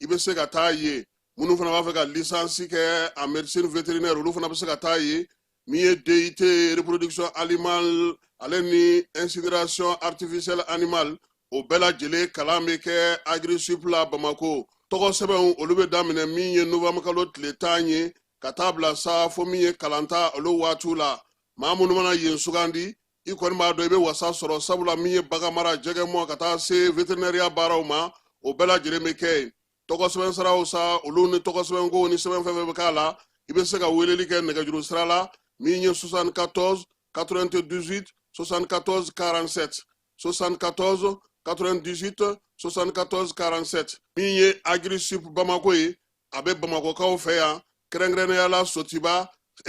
i bɛ se ka taa ye minnu fana b'a fɛ ka lisansi kɛ en médecine vétérinaire olu fana bɛ se ka taa ye min ye DUT reproduction animale ale ni incinération artificielle animale o bɛɛ lajɛlen kalan bɛ kɛ Agrisup la Bamako tɔgɔ sɛbɛnw olu bɛ daminɛ min ye novembre kalo tile tan ye ka taa bila sa fo min ye kalanta olu waatiw la maa minnu mana yen sugandi i kɔni b'a dɔn i bɛ wasa sɔrɔ sabula min ye bagan mara jɛgɛ mɔ ka taa se veterinɛriya baaraw ma o bɛɛ lajɛlen bɛ kɛ yen tɔgɔ sɛbɛn siraw sa olu ni tɔgɔ sɛbɛn ko ni sɛbɛn fɛn fɛn bɛ k'a la i bɛ se ka weleli kɛ nɛgɛjuru sira la min ye 74 98 74 47 74 98 74 47 min ye agrisup bamako ye a bɛ bamakɔkaw fɛ yan kɛrɛnkɛrɛnnenya la sotiba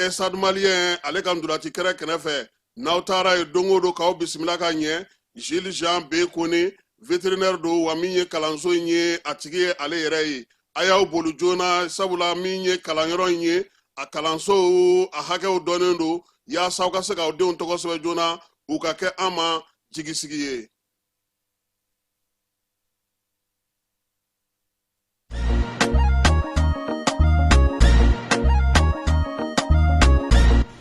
stade malien ale ka ntolaci kɛnɛ kɛrɛfɛ n'aw taara ye don o don k'aw bisimila ka ɲɛ jules jean b kone vétérinaire don wa min ye kalanso in ye a tigi ye ale yɛrɛ ye a y'aw boli joona sabula min ye kalanyɔrɔ in ye a kalansow a hakɛw dɔnnen don yaasa aw ka se k'aw denw tɔgɔ sɛbɛn joona u ka kɛ an ma jigisigi ye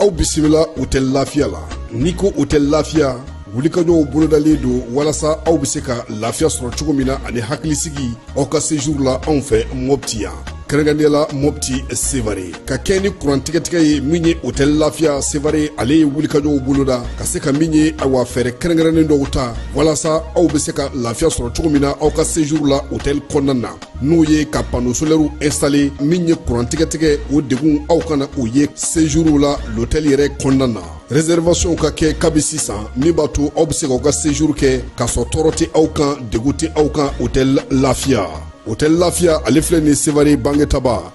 aw bisimila hotɛli lafiya la n'i ko hotɛli lafiya wulikajɔw bolodalen don walasa aw bɛ se ka lafiya sɔrɔ cogo min na ani hakilisigi aw ka sejuru la anw fɛ mɔpti yan kɛrɛnkɛrɛnnenya la mɔpti sevare ka kɛɲɛ ni kuran tigɛtigɛ ye min ye hotɛli lafiya sevare ale ye wulikajɔw boloda ka se ka min ye awa fɛɛrɛ kɛrɛnkɛrɛnnen dɔw ta walasa aw be se ka lafiya sɔrɔ cogo min na aw ka sejuru la hotɛli kɔnɔna na n'o ye ka pano solɛriw ɛnstale min ye kuran tigɛtigɛ o degun aw kana o ye sejuru la lotɛli yɛrɛ kɔnɔna na reservation ka kɛ kabi sisan min b'a to aw be se k'aw ka sejuru kɛ k'a sɔrɔ tɔɔrɔ tɛ aw kan degun tɛ aw kan hotɛli lafiya hotɛli lafiya ale filɛ nin sevare bangetaba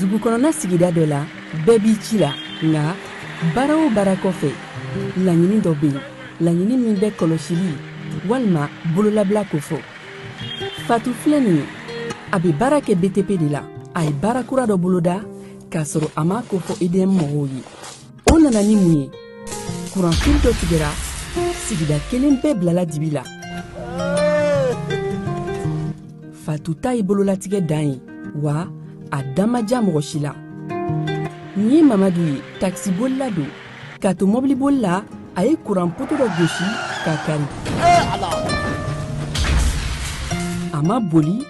dugukɔnɔna sigida dɔ la bɛɛ b'i ci la nka baara o baara kɔfɛ laɲini dɔ bɛ yen laɲini min bɛ kɔlɔsili walima bololabila ko fɔ fatu filɛ nin ye a bɛ baara kɛ btp de la a ye baara kura dɔ boloda k'a sɔrɔ a m'a ko fɔ edm mɔgɔw ye o nana ni mun ye kuranfili dɔ tigɛra sigida kelen bɛɛ bilala dibi la fatu ta ye bololatigɛ dan ye wa a dan ma diya mɔgɔ si la nin ye mamadu ye takisibolila don k'a to mɔbiliboli la a ye kuran poto dɔ gosi k'a kari a ma boli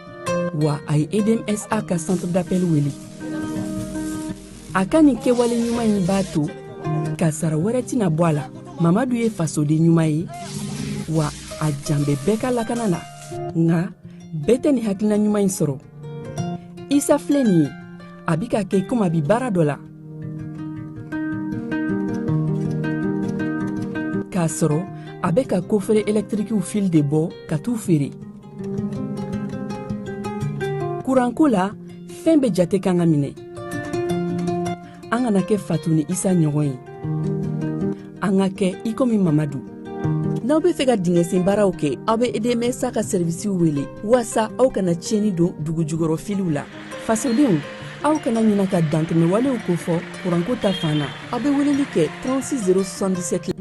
wa a ye edm sa ka centre d'appel wele a ka nin kɛwale ɲuman in b'a to ka sara wɛrɛ tɛna bɔ a la mamadu ye fasoden ɲuman ye wa a jan bɛ bɛɛ ka lakana na nka bɛɛ tɛ nin hakilina ɲuman in sɔrɔ isa filɛ nin ye a bi ka kɛ komi a bi baara dɔ la k'a sɔrɔ a bɛ ka kofere ɛlɛtirikiw fili de bɔ ka t'u feere kuranko la fɛn bɛɛ jate kan ka minɛ an kana kɛ fatu ni isa ɲɔgɔn ye an ka kɛ i komi mamadu n'aw be fɛ ka dingɛsen baaraw kɛ aw be EDM SA ka sɛrivisiw wele waasa aw kana tiɲɛni don dugu jukɔrɔ filiw la fasodenw aw kana ɲina ka dantɛmɛwalew kofɔ kuranko ta fan na aw bɛ weleli kɛ 36077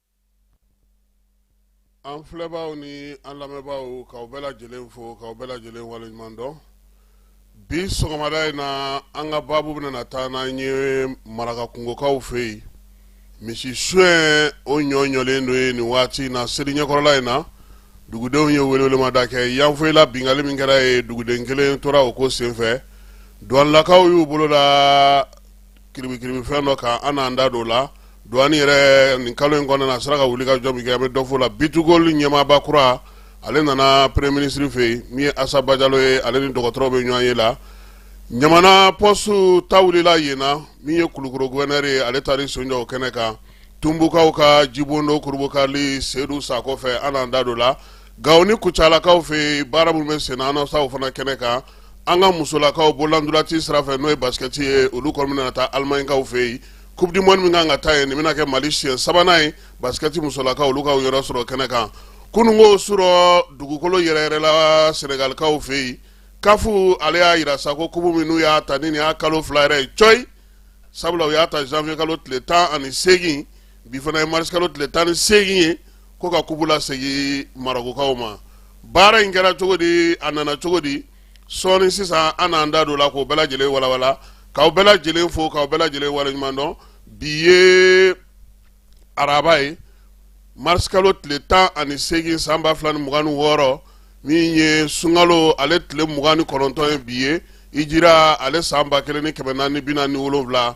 an filɛbaaw ni an lamɛnbaaw k'aw bɛɛ lajɛlen fo k'aw bɛɛ lajɛlen waleɲuman dɔn bi sɔgɔmada in na an ka baabu bɛna taa n'an ye maraka kungokaw fɛ yen misi suɲɛ o ɲɔɲɔlen don yen nin waati in na seli ɲɛkɔrɔla in na dugudenw ye welewelemada kɛ yanfoyila bingali min kɛra yen duguden kelen tora o ko senfɛ douanelakaw y'u bolo la kiribikiribi fɛn dɔ kan an n'an da don o la douane yɛrɛ nin kalo in kɔnɔna na a sera ka wuli ka jɔ min kɛ an bɛ dɔ f'o la B2Gold ɲɛmaaba kura ale nana premier ministre fɛ yen min ye asa bajalo ye ale ni dɔgɔtɔrɔ bɛ ɲɔgɔn ye la ɲamana poste ta wulila yen na min ye kulukoro gouverneur ye ale taara i sen jɔ o kɛnɛ kan tunbukaw ka jibondo kurubukali sedu sako fɛ an n'an da don o la Gawo ni kucalakaw fɛ yen baara minnu bɛ sen na o fana kɛnɛ kan an ka musolakaw bololantolati sira fɛ n'o ye basket ye olu kɔni bɛna taa alimaɲikaw fɛ yen coupe du monde min kan ka taa yen nin bɛna kɛ mali siɲɛ sabanan ye basket musolakaw olu ka yɔrɔ sɔrɔ kɛnɛ kan kununko su rɔ dugukolo yɛrɛyɛrɛla sɛnɛgalikaw fɛ yen CAF ale y'a jira sa ko kupu min n'u y'a ta nin y'a kalo fila yɛrɛ ye coyi sabula u y'a ta janvier kalo tile tan ani seegin bi fana ye marisikalo tile tan ni seegin ye ko ka kupu lasegin marokokaw ma baara in kɛra cogo di a nana cogo di sɔɔni sisan an n'an da don la k'o bɛɛ lajɛlen walawala k'aw bɛɛ lajɛlen fo k'aw bɛɛ lajɛlen waleɲuman dɔn bi ye araba ye marisikalo tile tan ani seegin san ba fila ni mugan ni wɔɔrɔ min ye sunkalo ale tile mugan ni kɔnɔntɔn ye bi ye hijira ale san ba kelen ni kɛmɛ naani bi naani ni wolonwula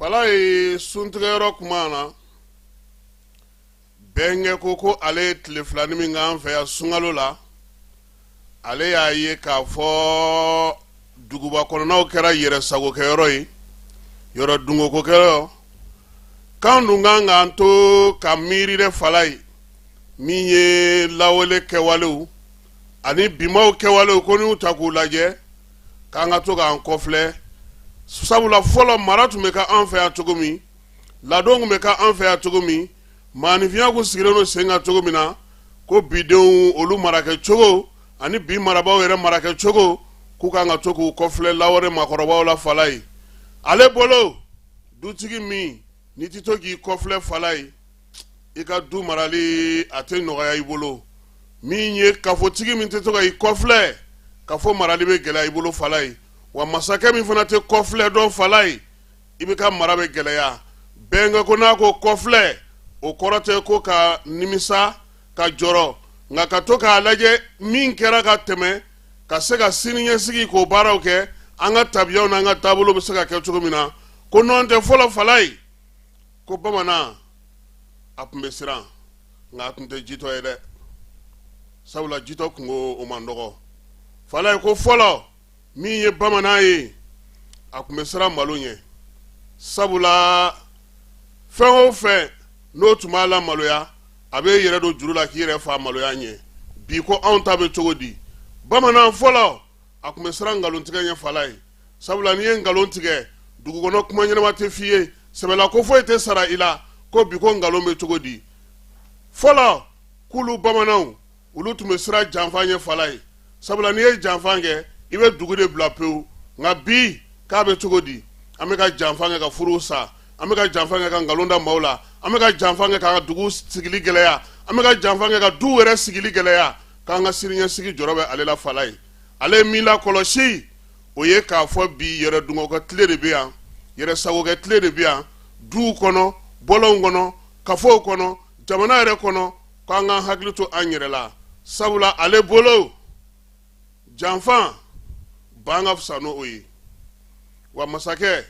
falaye suntigɛyɔrɔ kuma na bɛnkɛ ko ko ale ye tile filani min k'an fɛ yan sunkalo la ale y'a ye k'a fɔ duguba kɔnɔnaw kɛra yɛrɛ sagokɛyɔrɔ ye yɛrɛ dungɔkokɛyɔrɔ k'an dun kan k'an to ka miiri dɛ falaye min ye lawale kɛwalew ani bimaw kɛwalew ko n'u ta k'u lajɛ k'an ka to k'an kɔflɛ sabula fɔlɔ mara tun bɛ k'an fɛ yan cogo min ladon tun bɛ k'an fɛ yan cogo min maaninfinya tun sigilen don sen kan cogo min na ko bidenw olu marakɛ cogo ani bi marabaaw yɛrɛ marakɛ cogo k'u kan ka to k'u kɔflɛ lawale maakɔrɔbaw la falaye ale bolo dutigi min n'i tɛ to k'i kɔflɛ falaye i ka du marali a tɛ nɔgɔya i bolo min ye kafotigi min tɛ to ka i kɔflɛ kafo marali bɛ gɛlɛya i bolo falaye wa masakɛ min fana tɛ kɔflɛ dɔn falaye i bɛ ka mara bɛ gɛlɛya bɛnkɛ ko n'a ko kɔflɛ o kɔrɔ tɛ ko ka nimisa ka jɔrɔ nka ka to k'a lajɛ min kɛra ka tɛmɛ ka se ka sini ɲɛsigi k'o baaraw kɛ an ka tabiyaw n'an ka taabolo bɛ se ka kɛ cogo min na ko nɔntɛ fɔlɔ falaye ko bamanan a tun bɛ siran nka a tun tɛ jitɔ ye dɛ sabula jitɔ kunko o man dɔgɔ falaye ko fɔlɔ min ye bamanan ye a tun bɛ siran malo ɲɛ sabula fɛn o fɛn n'o tun b'a lamaloya a bɛ yɛrɛ don juru la k'i yɛrɛ faa maloya ɲɛ bi ko anw ta bɛ cogo di bamanan fɔlɔ a tun bɛ siran nkalontigɛ ɲɛ falaye sabula n'i ye nkalon tigɛ dugukɔnɔ kuma ɲɛnama tɛ f'i ye sɛbɛla ko foyi tɛ sara i la ko bi ko nkalon bɛ cogo di fɔlɔ k'olu bamananw olu tun bɛ siran janfa ɲɛ falaye sabula n'i ye janfa kɛ i bɛ dugu de bila pewu nka bi k'a bɛ cogo di an bɛ ka janfa kɛ ka furuw sa an bɛ ka janfa kɛ ka nkalon da maaw la an bɛ ka janfa kɛ k'an ka dugu sigili gɛlɛya an bɛ ka janfa kɛ ka duw yɛrɛ sigili gɛlɛya k'an ka siniɲɛsigi jɔrɔ bɛ ale la falaye ale ye min lakɔlɔsi o ye k'a fɔ bi yɛrɛ dungɔkɛ tile de bɛ yan yɛrɛ sagokɛ tile de bɛ yan duw kɔnɔ bɔlɔnw kɔnɔ kafow kɔnɔ jamana yɛrɛ kɔnɔ k'an k'an hakili to an yɛrɛ la sabula ale bolo janfa ban ka fisa n'o ye wa masakɛ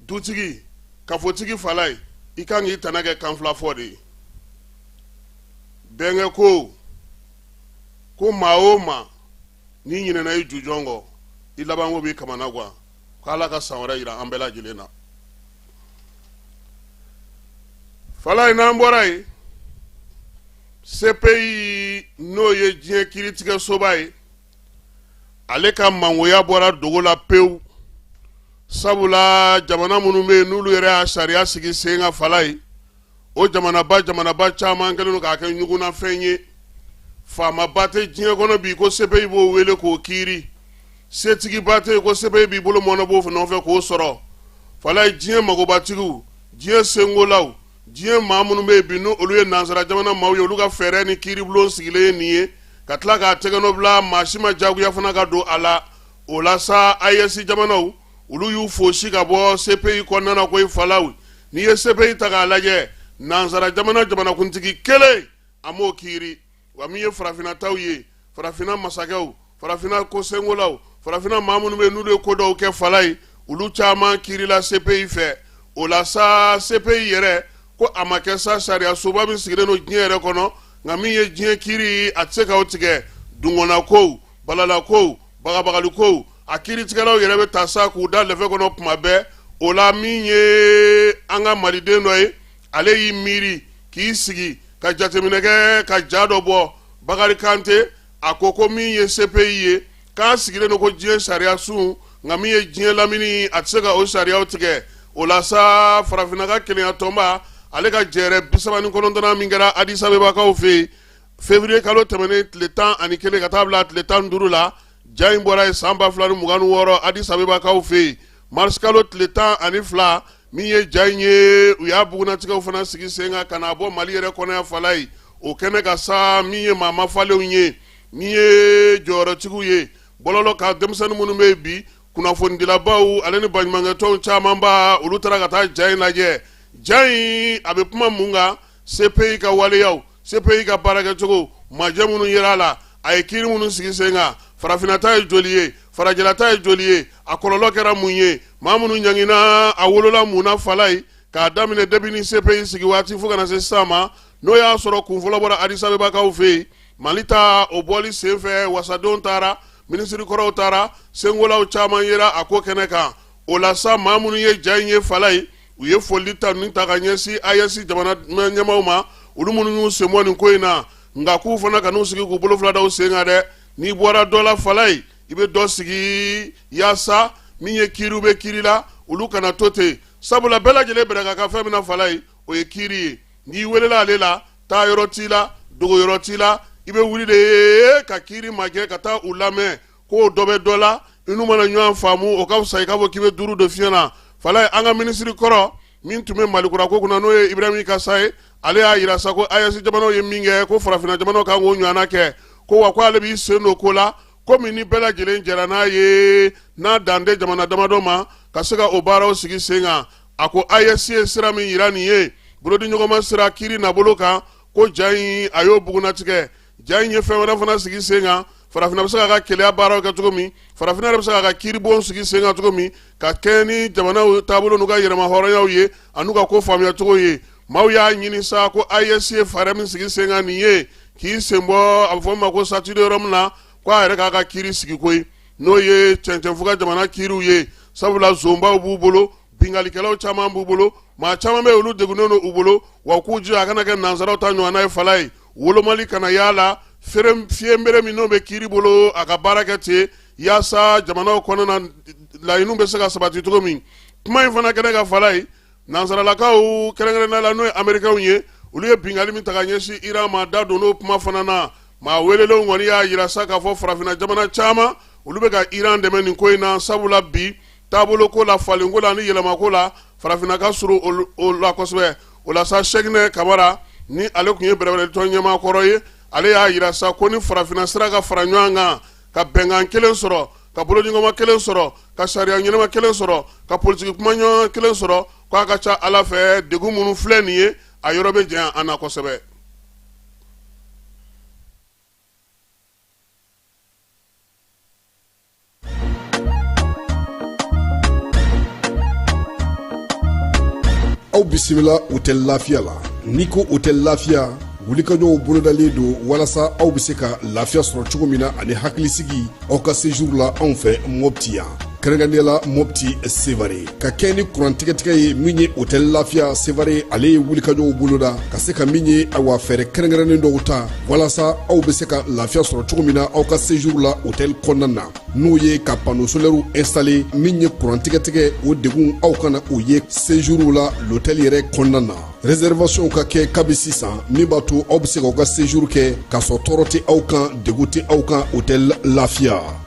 dutigi kafotigi falaye i kan k'i tana kɛ kanfilafɔ de ye bɛnkɛ ko ko maa o maa n'i ɲinɛna i jujɔn kɔ i labanko b'i kamana gwan ko ala ka san wɛrɛ yira an bɛɛ lajɛlen na fala ye n'an bɔra yen sepeyi n'o ye diɲɛ kiiritigɛsoba ye ale ka mangoya bɔra dogo la pewu sabula jamana minnu bɛ yen n'olu yɛrɛ y'a sariya sigi sen kan fala ye o jamanaba jamanaba caman kɛlen don k'a kɛ ɲugunnafɛn ye faamaba tɛ diɲɛ kɔnɔ bi ko sepeyi b'o wele k'o kiiri setigiba tɛ yen ko sepeyi b'i bolo mɔɔnɔbɔ o nɔfɛ k'o sɔrɔ fala ye diɲɛ magobatigiw diɲɛ senkolaw diɲɛ maa minnu bɛ yen bi n'olu ye nansara jamana maaw ye olu ka fɛɛrɛ ni kiiribulon sigilen ye nin ye ka tila k'a tɛgɛnɔbila maa si ma jagoya fana ka don a la o la sa AES jamanaw olu y'u fosi ka bɔ sepeyi kɔnɔna ko i falaw n'i ye sepeyi ta k'a lajɛ nansara jamana jamanakuntigi kelen a m'o kiiri wa min ye farafinataw ye farafina masakɛw farafina kosengolaw farafina maa minnu bɛ n'olu ye ko dɔw kɛ fala ye olu caman kiirila sepeyi fɛ o la sa sepeyi yɛrɛ ko a ma kɛ sa sariya soba min sigilen don diɲɛ yɛrɛ kɔnɔ nka min ye diɲɛ kiiri a tɛ se ka o tigɛ dungɔnna kow balala kow bagabagali kow a kiiritigɛlaw yɛrɛ bɛ taa sa k'u da lɛfɛ kɔnɔ tuma bɛɛ o la min ye an ka maliden dɔ ye ale y'i miiri k'i sigi ka jateminɛ kɛ ka ja dɔ bɔ bakari kante a ko ko min ye sepeyi ye k'a sigilen don ko diɲɛ sariya sun nka min ye diɲɛ lamini a tɛ se ka o sariyaw tigɛ o la sa farafinna ka kelenya tɔnba ale ka jɛrɛ bi saba ni kɔnɔntɔnna min kɛra adisabebakaw fɛ yen février kalo tɛmɛnen tile tan ani kelen ka taa bila tile tan duuru la ja in bɔra ye san ba fila ni mugan ni wɔɔrɔ adis abebakaw fɛ yen mars kalo tile tan ani fila min ye ja in ye u y'a bugunnatigɛw fana sigi sen kan ka n'a bɔ mali yɛrɛ kɔnɔ yan fala ye o kɛnɛ kan sa min ye maa mafalenw ye min ye jɔyɔrɔtigiw ye bɔlɔlɔ kan denmisɛnnin minnu bɛ yen bi kunnafonidilabaw ale ni baɲumankɛtɔnw camanba olu taara ka taa ja in lajɛ ja in a bɛ kuma mun kan CPI ka waleyaw, CPI ka baarakɛcogo, majɛ minnu yera a la, a ye kiiri minnu sigi sen kan, farafinna ta ye joli ye, farajɛla ta ye joli ye, a kɔlɔlɔ kɛra mun ye, maa minnu ɲanginna, a wolola mun na Falaye, k'a daminɛ depuis ni CPI sigi waati fo ka na se sisan ma, n'o y'a sɔrɔ kunfɔlɔ bɔra Addis Abebakaw fɛ yen, Mali ta, o bɔli sen fɛ, wasadenw taara, minisiri kɔrɔw taara, senkolaw caman yera a ko kɛnɛ kan, o la sa, maa minnu ye ja in ye Falaye, u ye foli tanuni ta ka ɲɛsin ayesi jamana ɲɛmaaw ma olu minnu y'u senbɔ nin ko in na nka k'u fana kan'u sigi k'u bolo fila da u sen kan dɛ n'i bɔra dɔ la falayi i bɛ dɔ sigi yaasa min ye kiiriw bɛ kiiri la olu kana to ten sabula bɛɛ lajɛlen bɛrɛ ka kan fɛn min na falayi o ye kiiri ye n'i welela ale la taa yɔrɔ t'i la dogo yɔrɔ t'i la i bɛ wuli de ye ka kiiri magɛn ka taa u lamɛn k'o dɔ bɛ dɔ la i n'u mana ɲɔgɔn faamu o ka fisa i k'a fɔ k'i bɛ duuru de fiɲɛ na falayi an ka minisiri kɔrɔ min tun bɛ malikura ko kunna n'o ye ibrahim ikasa ye ale y'a jira sa ko ayesi jamanaw ye min kɛ ko farafinna jamanaw kan k'o ɲɔgɔnna kɛ ko wa ko ale b'i sen don ko la komi ni bɛɛ lajɛlen jɛra n'a ye n'a dan tɛ jamana damadɔ ma ka se ka o baaraw sigi sen kan a ko ayesi ye sira min jira nin ye bolodiɲɔgɔnma sira kiri nabolo kan ko ja in a y'o bugunnatigɛ ja in ye fɛn wɛrɛ fana sigi sen kan farafinna bɛ se k'a ka kelenya baaraw kɛ cogo min farafinna yɛrɛ bɛ se k'a ka kiiribon sigi sen kan cogo min ka kɛɲɛ ni jamanaw taabolo n'u ka yɛrɛmahɔrɔnyaw ye an'u ka ko faamuya cogo ye maaw y'a ɲini sa ko ayesi ye fɛɛrɛ min sigi sen kan nin ye k'i senbɔ a bɛ fɔ min ma ko statut de rome na ko a yɛrɛ k'a ka kiiri sigi koyi n'o ye cɛncɛnfuga jamana kiiriw ye sabula zonbaw b'u bolo binkalikɛlaw caman b'u bolo maa caman bɛ olu degunnen don u bolo wa k'u jija a kana kɛ nansaraw ta ɲɔgɔnna ye falayi wolomali kana y'a la fiɲɛbere min n'o bɛ kiiri bolo a ka baara kɛ ten yaasa jamanaw kɔnɔna laɲiniw bɛ se ka sabati cogo min kuma in fana kɛnɛ kan falayi nansaralakaw kɛrɛnkɛrɛnnenya la n'o ye amerikɛnw ye olu ye binkali min ta ka ɲɛsin iran ma da donn'o kuma fana na maa welelenw kɔni y'a jira sa k'a fɔ farafinna jamana caman olu bɛ ka iran dɛmɛ nin ko in na sabula bi taabolo ko la falen ko la ni yɛlɛma ko la farafinna ka surun o la kosɛbɛ o la sa sɛkinɛ kamara ni ale tun ye bɛrɛbɛrɛtɔn ɲɛmaa kɔrɔ ye ale y'a jira sa ko ni farafinna sera ka fara ɲɔgɔn kan ka bɛnkan kelen sɔrɔ ka bolodiɲɔgɔnma kelen sɔrɔ ka sariya ɲɛnama kelen sɔrɔ ka politiki kuma ɲɔgɔn kelen sɔrɔ ko a ka ca ala fɛ degun minnu filɛ nin ye a yɔrɔ bɛ janya an na kosɛbɛ aw bisimila hotɛli lafiya la n'i ko hotɛli lafiya wulikajɔw bolodalen don walasa aw bɛ se ka lafiya sɔrɔ cogo min na ani hakilisigi aw ka sejuru la anw fɛ mɔpti yan kɛrɛnkɛrɛnnenya la mɔpti sevare ka kɛɲɛ ni kurantigɛtigɛ ye min ye hotɛli lafiya sevare ale ye wulikajɔw boloda ka se ka min ye awa fɛɛrɛ kɛrɛnkɛrɛnnen dɔw ta walasa aw be se ka lafiya sɔrɔ cogo min na aw ka sejuru la hotɛli kɔnɔna na n'o ye ka pano solɛriw ɛnstale min ye kurantigɛtigɛ o degun aw kana o ye sejuru la lotɛli yɛrɛ kɔnɔna na rɛsɛrivasiyɔnw ka kɛ kabi sisan min b'a to aw be se k'aw ka sejuru kɛ k'a sɔrɔ tɔɔrɔ tɛ aw kan degun tɛ aw kan hotɛli lafiya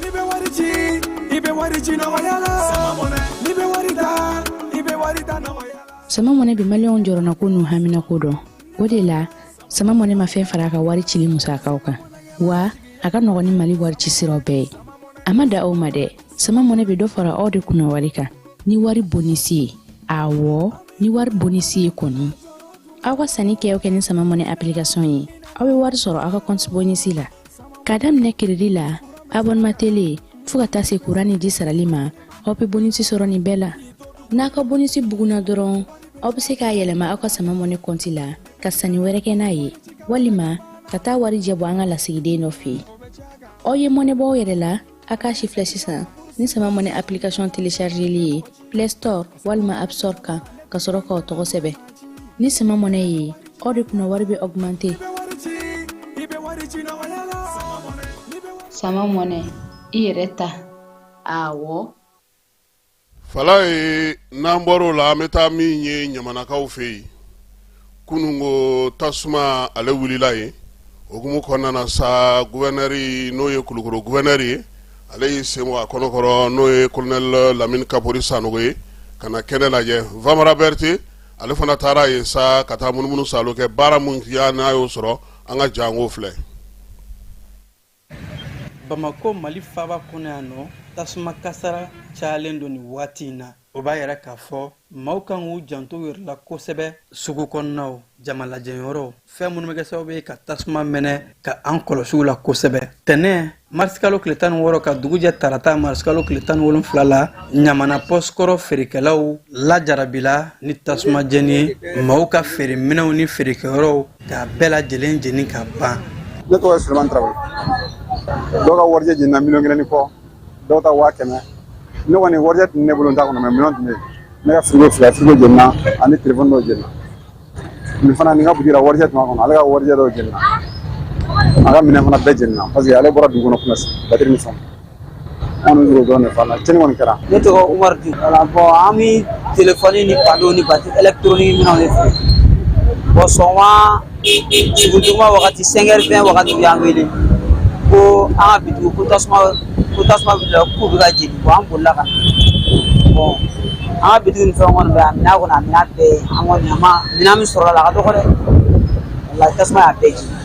N'i bɛ wari ci i bɛ wari ci nɔgɔya la sama mɔnɛ n'i bɛ wari ta i bɛ wari ta nɔgɔya la sama mɔnɛ bi maliyɛnw jɔrɔnako n'u haminako dɔn o de la sama mɔnɛ ma fɛn fara a ka wari cili musakaw kan wa a ka nɔgɔn ni mali wari ci siraw bɛɛ ye a ma dan o ma dɛ sama mɔnɛ bɛ dɔ fara aw de kunna wari kan ni wari bonisi ye awɔ ni wari bonisi ye kɔni aw ka sanni kɛ o kɛ ni sama mɔnɛ application ye aw bɛ wari sɔrɔ aw ka kɔnti bonisi la ka daminɛ keredi la abɔnema tele fɔɔ ka taa se kuran ni ji sarali ma aw be bonisi sɔrɔ nin bɛɛ la n'a ka bonisi buguna dɔrɔn aw be se k'a yɛlɛma aw ka sama mɔnɛ kɔnti la ka sanni wɛrɛ kɛ n'a ye walima ka taa warijɛ bɔ an ka lasigiden dɔ fɛ aw ye mɔnɛ bɔ aw yɛrɛ la a k'a sifilɛ sisan ni sama mɔnɛ application téléchargeli ye play store walima app store kan ka sɔrɔ k'aw tɔgɔ sɛbɛn ni sama mɔnɛ ye aw de kunna wari bɛ augmenter sama mɔnɛ i yɛrɛ ta awɔ fala ye n'an bɔr'o la an bɛ taa min ye ɲamanakaw fɛ yen kunungo tasuma ale wulila yen o hukumu kɔnɔna na sa guvɛrinɛri n'o ye kulukɔrɔ guvɛrinɛri ye ale y'i sen bɔ a kɔnɔkɔrɔ n'o ye kolonɛli lamini kapori sanogo ye ka na kɛnɛ lajɛ vamara berete ale fana taara yen sa ka taa munumunu saalo kɛ baara minnu tɛya n'a y'o sɔrɔ an ka janko filɛ bamakɔ mali faaba kɔnɔ yan nɔ tasuma kasara cayalen don nin waati in na o b'a yira k'a fɔ maaw kan k'u janto u yɛrɛ la kosɛbɛ sugu kɔnɔnaw jamalajɛyɔrɔw fɛn minnu bɛ kɛ sababu ye ka tasuma mɛnɛ ka an kɔlɔsi u la kosɛbɛ tɛnɛ marisikalo tile tan ni wɔɔrɔ ka dugujɛ tarata marisikalo tile tan ni wolonfila la ɲamana pɔsi kɔrɔ feerekɛlaw lajarabila ni tasuma jeni ye maaw ka feere minɛnw ni feerekɛyɔrɔw K'a bɛɛ lajɛlen jeni ka ban. Ne tɔgɔ ye Sulemani Tarawele. Dɔw ka warijɛ jenina miliyɔn kelen ni kɔ, dɔw ta waa kɛmɛ. Ne kɔni warijɛ tun bɛ ne bolo n ta kɔnɔ mais miliyɔn tun bɛ yen. Ne ka frigo fila, frigo jenina ani telefɔni dɔw jenina. Nin fana nin ka butigi la warijɛ tun b'a kɔnɔ, ale ka warijɛ dɔw jenina. A ka minɛn fana bɛɛ jenina parce que ale bɔra dugu kɔnɔ kunasini, batiri ni fɛnw. an bɛ wele dɔrɔn de f'a la cɛnni kɔni kɛra ne tɔgɔ umaru di wala bɔn an bɛ telefɔni ni pano ni batiri ɛlɛkitoroni minɛnw de feere bɔn sɔgɔma suguri tuma wagati sɛnkɛri vɛn wagati u y'an wele ko an ka bitigiw ko tasuma ko tasuma wulila k'u bɛ ka jeni bɔn an bolila ka na bɔn an ka bitigi ni fɛn kɔni bɛ yan minɛn kɔni a minɛn bɛɛ ye an kɔni a ma minɛn min sɔrɔla a la a ka dɔgɔ dɛ walayi tasuma y'a bɛɛ jeni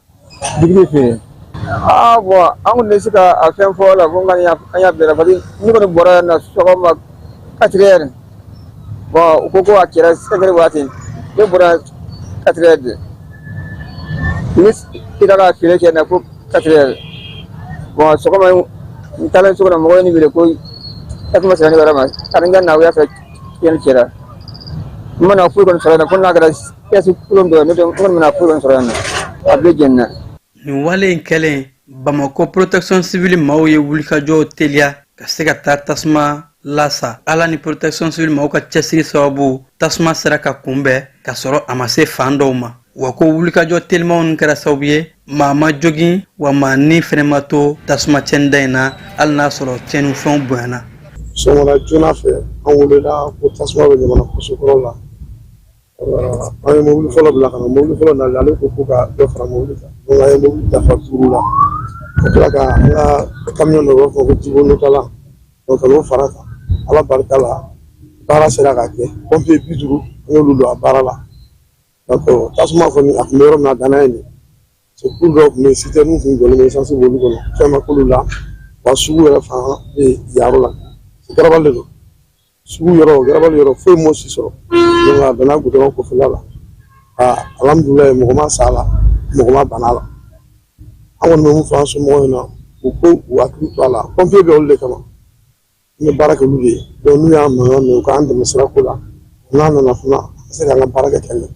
Digi fɛ yen bɔn an tun bɛ se ka a fɛn fɔ la ko an y'a bɛn parce que ne kɔni bɔra yan na sɔgɔma quatre heures u ko ko a kɛra cinq heures waati ne bɔra quatre heures ne sira ka feere kɛ na ko quatre heures bɔn sɔgɔma n taara so kɔnɔ mɔgɔ ye ne wele ko tasuma sera ne yɔrɔ ma ko n ka na u y'a fɔ cɛnni kɛra n ma na foyi kɔni sɔrɔ fo n'a kɛra Kɛsu kolon dɔ ye ne kɔni ma na foyi kɔni sɔrɔ yan na a bɛɛ jenina nin wale in kɛlen bamakɔ protection civile maaw ye wulikajɔw teliya ka se ka taa tasuma lasa ala ni protection civile maaw ka cɛsiri sababu tasuma sera ka kunbɛn ka sɔrɔ a ma se fan dɔw ma wa ko wulikajɔ telimanw nin kɛra sababu ye maa ma jogin wa maa ni fɛnɛ ma to tasuma cɛnida in na hali n'a sɔrɔ cɛnni fɛnw bonyana sɔgɔmada joona fɛ an welela ko tasuma bɛ ɲamana kɔsokɔrɔ la an ye mobili fɔlɔ bila ka na mobili fɔlɔ nalen ale ko ka dɔ fara mobili kan donc an ye mobili dafa duuru la ka tila ka an ka camion dɔ b'a fɔ ko jibo notala o ka n'o fara kan ala barika la baara sera ka kɛ pompier bi duuru an y'olu don a baara la donc tasuma kɔni a tun bɛ yɔrɔ min na a danna yen des véhicules dɔw tun bɛ yen sitɛrɛniw tun jɔlen bɛ esansi b'olu kɔnɔ fɛn ma k'olu la wa sugu yɛrɛ fan bɛ yen yɔrɔ la garabali de don sugu yɔrɔ garabali yɔrɔ foyi m'o si sɔrɔ donc a bɛnna gudɔrɔn kɔfɛla la aa alhamdulilayi mɔgɔ ma sa a la mɔgɔ ma bana a la an kɔni bɛ min fɔ an somɔgɔw ɲɛna u k'u hakili to a la pɔnpiye bɛ olu de kama an bɛ baara kɛ olu de ye donc n'u y'an mankan mɛn u k'an dɛmɛ sirako la n'an nana fana an ka se k'an ka baara kɛ ka ɲɛ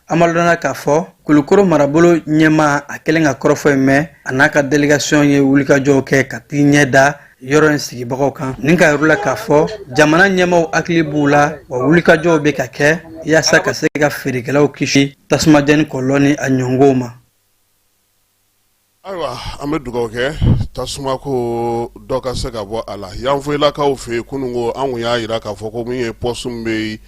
an b'a dɔnna k'a fɔ kulukoro marabolo ɲɛmaa a kɛlen ka kɔrɔfɔ in mɛn a n'a ka delegasiyɔn ye wulikajɔw kɛ ka t'i ɲɛ da yɔrɔ in sigibagaw kan ni k'a jira u la k'a fɔ jamana ɲɛmaaw hakili b'u la wa wulikajɔw bɛ ka kɛ yaasa ka se ka feerekɛlaw kisi tasumajɛni kɔlɔlɔ ni a ɲɔngow ma Ayiwa an bɛ dugawu kɛ tasuma ko dɔ ka se ka bɔ a la yanfoyilakaw fɛ yen kunun ko an kun y'a jira k'a fɔ ko min ye pɔsiti bɛ yen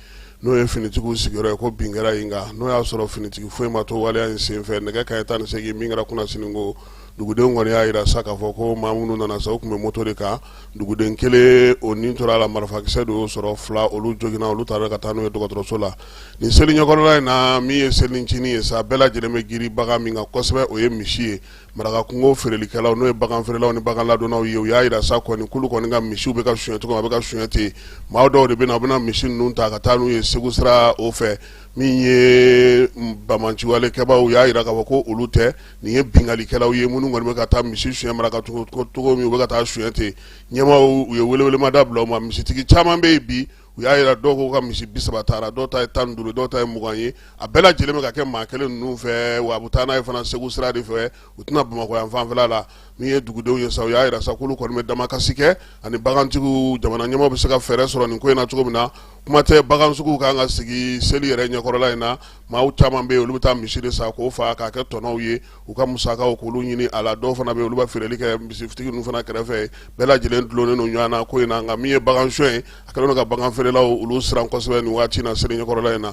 n'o ye finitigiw sigiyɔrɔ ye ko bin kɛra yen kan n'o y'a sɔrɔ finitigi foyi ma to waleya in senfɛ nɛgɛ kanɲɛ tan ni segin min kɛra kunnasini ko dugudenw kɔni y'a jira sa k'a fɔ ko maa minnu nana sa u tun bɛ moto de kan duguden kelen o ni tora a la marifakisɛ de y'o sɔrɔ fila olu joginna olu taara ka taa n'u ye dɔgɔtɔrɔso la nin seli ɲɛkɔrɔla in na min ye selicinin ye sa bɛɛ lajɛlen bɛ girin bagan min kan kosɛbɛ o ye misi ye marakakungo feerelikɛlaw n'o ye bagan feerelaw ni bagan ladonnaw ye u y'a jira sa kɔni k'olu kɔni ka misiw bɛ ka suɲɛ cogo a bɛ ka suɲɛ ten maa dɔw de bɛ na u bɛna misi ninnu ta ka taa n'u ye segu sira o fɛ min ye banbaanciwale kɛbaaw u y'a jira k'a fɔ ko olu tɛ nin ye binkalikɛlaw ye minnu kɔni bɛ ka taa misi suɲɛ maraka cogo min u bɛ ka taa suɲɛ ten ɲɛmaaw u ye welewelemada bila u ma misitigi caman bɛ yen bi u y'a yira dɔw k'u ka misi bi saba taara dɔw ta ye tan ni duuru dɔw ta ye mugan ye a bɛɛ lajɛlen bɛ ka kɛ maa kelen ninnu fɛ wa a bɛ taa n'a ye fana segu sira de fɛ u tɛna bamakɔ yan fanfɛla la min ye dugudenw ye sa u y'a yira sa k'olu kɔni bɛ damakasi kɛ ani bagantigiw jamana ɲɛmaaw bɛ se ka fɛɛrɛ sɔrɔ nin ko in na cogo min na kuma tɛ bagansuguw kan ka sigi seli yɛrɛ ɲɛkɔrɔla in na maaw caman bɛ yen olu bɛ taa misi de san k'o fa k'a kɛ tɔnɔw ye u ka musakaw k'olu ɲini a la dɔw fana bɛ olu bɛ feereli kɛ misitigi ninnu fana kɛrɛfɛ bɛɛ lajɛlen dulonnen don ɲɔgɔn na ko in na nka min ye bagansonyɛ ye a kɛlen don ka baganfeerelaw olu siran kosɛbɛ nin waati na seli ɲɛkɔrɔla in na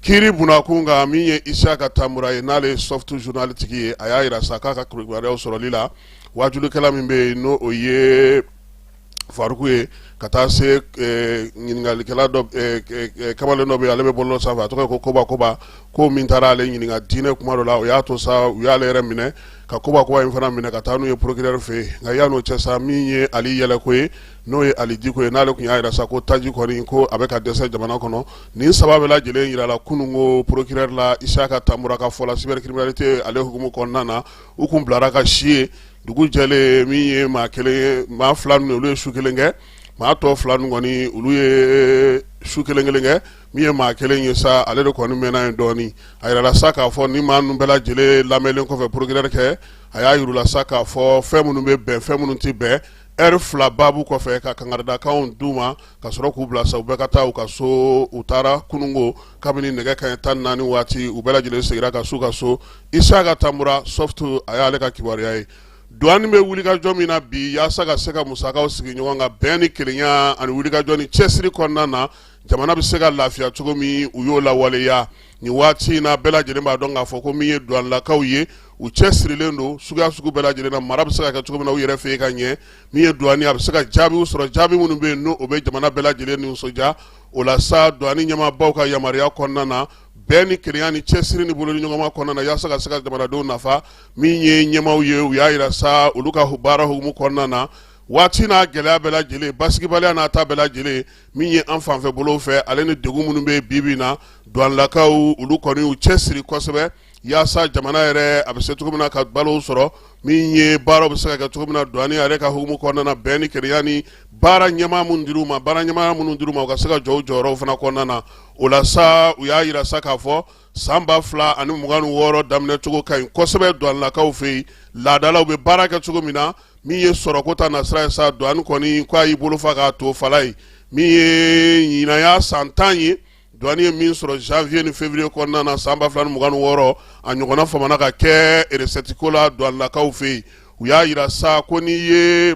kiri bunnakun kan min ye isaka tamura ye n'ale ye soft journal tigi ye a y'a yira sa k'a ka kibaruyaw sɔrɔli la wajulikɛla min bɛ yen n' o ye faruku ye ka taa se ɲininkalikɛla kamalen dɔ bɛ yen ale bɛ bɔlɔlɔ sanfɛ a tɔgɔ ko koba koba ko min taara ale ɲininka diinɛ kuma dɔ la o y'a to sa u y'ale yɛrɛ minɛ ka koba koba in fana minɛ ka taa n'u ye procureur fɛ yen nka yan'o cɛ sa min ye ali yɛlɛko ye n'o ye ali diko ye n'ale tun y'a yira sa ko taji kɔni ko a bɛ ka dɛsɛ jamana kɔnɔ nin saba bɛɛ lajɛlen yirala kununko procureur la isaka tamura ka fɔ la cybercriminalité ale hukumu kɔnɔna na u tun bilara ka si yen dugu jɛlen min ye maa kelen ye maa fila ninnu olu ye su kelen kɛ maa tɔ fila ninnu kɔni olu ye su kelen kelen kɛ min ye maa kelen ye sa ale de kɔni mɛnna yen dɔɔnin a yirala sa k'a fɔ ni maa ninnu bɛɛ lajɛlen lamɛnlen kɔfɛ procureur kɛ a y'a yira u la sa k'a fɔ fɛn minnu bɛ bɛn fɛn minnu tɛ bɛn ɛri fila babu kɔfɛ ka kangaridakanw d'u ma ka sɔrɔ k'u bila sa u bɛɛ ka taa u ka so u taara kununko kabini nɛgɛ kanɲɛ tan ni naani waati u bɛɛ lajɛlen segira ka s'u ka so isaka tamura soft a y'ale ka kibaruya ye duwani bɛ wulikajɔ min na bi yaasa ka se ka musakaw sigi ɲɔgɔn kan bɛn ni kelenya ani wulikajɔ ni cɛsiri kɔnɔna na jamana bɛ se ka lafiya cogo min u y'o lawaleya nin waati in na bɛɛ lajɛlen b'a dɔn k'a fɔ ko min ye duwanlakaw ye u cɛsirilen don suguya sugu bɛɛ lajɛlen na mara bɛ se ka kɛ cogo min na u yɛrɛ fɛ yen ka ɲɛ min ye duwani a bɛ se ka jaabiw sɔrɔ jaabi minnu bɛ yen n'o bɛ jamana bɛɛ lajɛlen nisɔndiya o la sa duwani ɲɛmaabaw ka yamaruya kɔnɔna na bɛn ni kelenya ni cɛsiri ni bolodiɲɔgɔnma kɔnɔna na yaasa ka se ka jamanadenw nafa min ye ɲɛmaaw ye u y'a yira sa olu ka baara hukumu kɔnɔna na waati n'a gɛlɛya bɛɛ lajɛlen basigibaliya n'a ta bɛɛ lajɛlen min ye an fanfɛ bolo fɛ ale ni degun minnu bɛ bi bi in na douanelakaw olu kɔni u cɛsiri kosɛbɛ yaasa jamana yɛrɛ a bɛ se cogo min na ka balow sɔrɔ min ye baaraw bɛ se ka kɛ cogo min na duwani yɛrɛ ka hukumu kɔnɔna na bɛn ni kelenya ni baara ɲɛmaa minnu dir'u ma baara ɲɛmaa minnu dir'u ma u ka se ka jɔ jɔyɔrɔ fana kɔnɔna na o la sa u y'a yira sa k'a fɔ san ba fila ani mugan ni wɔɔrɔ daminɛcogo ka ɲi kosɛbɛ duwanlakaw fɛ yen laadalaw bɛ baara kɛ cogo min na min ye sɔrɔko ta nasira ye sa duwani kɔni k'a y'i bolo fa k'a to fala ye min ye ɲinan san ta ye Douane ye min sɔrɔ janvier ni février kɔnɔna na san ba fila mugan ni wɔɔrɔ a ɲɔgɔnna famana ka kɛ recette ko la douanelakaw fɛ yen u y'a jira sa ko n'i ye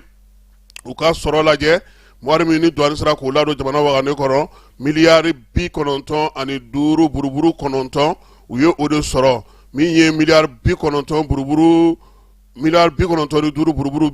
u ka sɔrɔ lajɛ wari min ni douane sera k'o ladon jamana wagane kɔnɔ miliyari bi kɔnɔntɔn ani duuru buruburu kɔnɔntɔn u ye o de sɔrɔ min ye miliyari bi kɔnɔntɔn buruburu miliyari bi kɔnɔntɔn duuru buruburu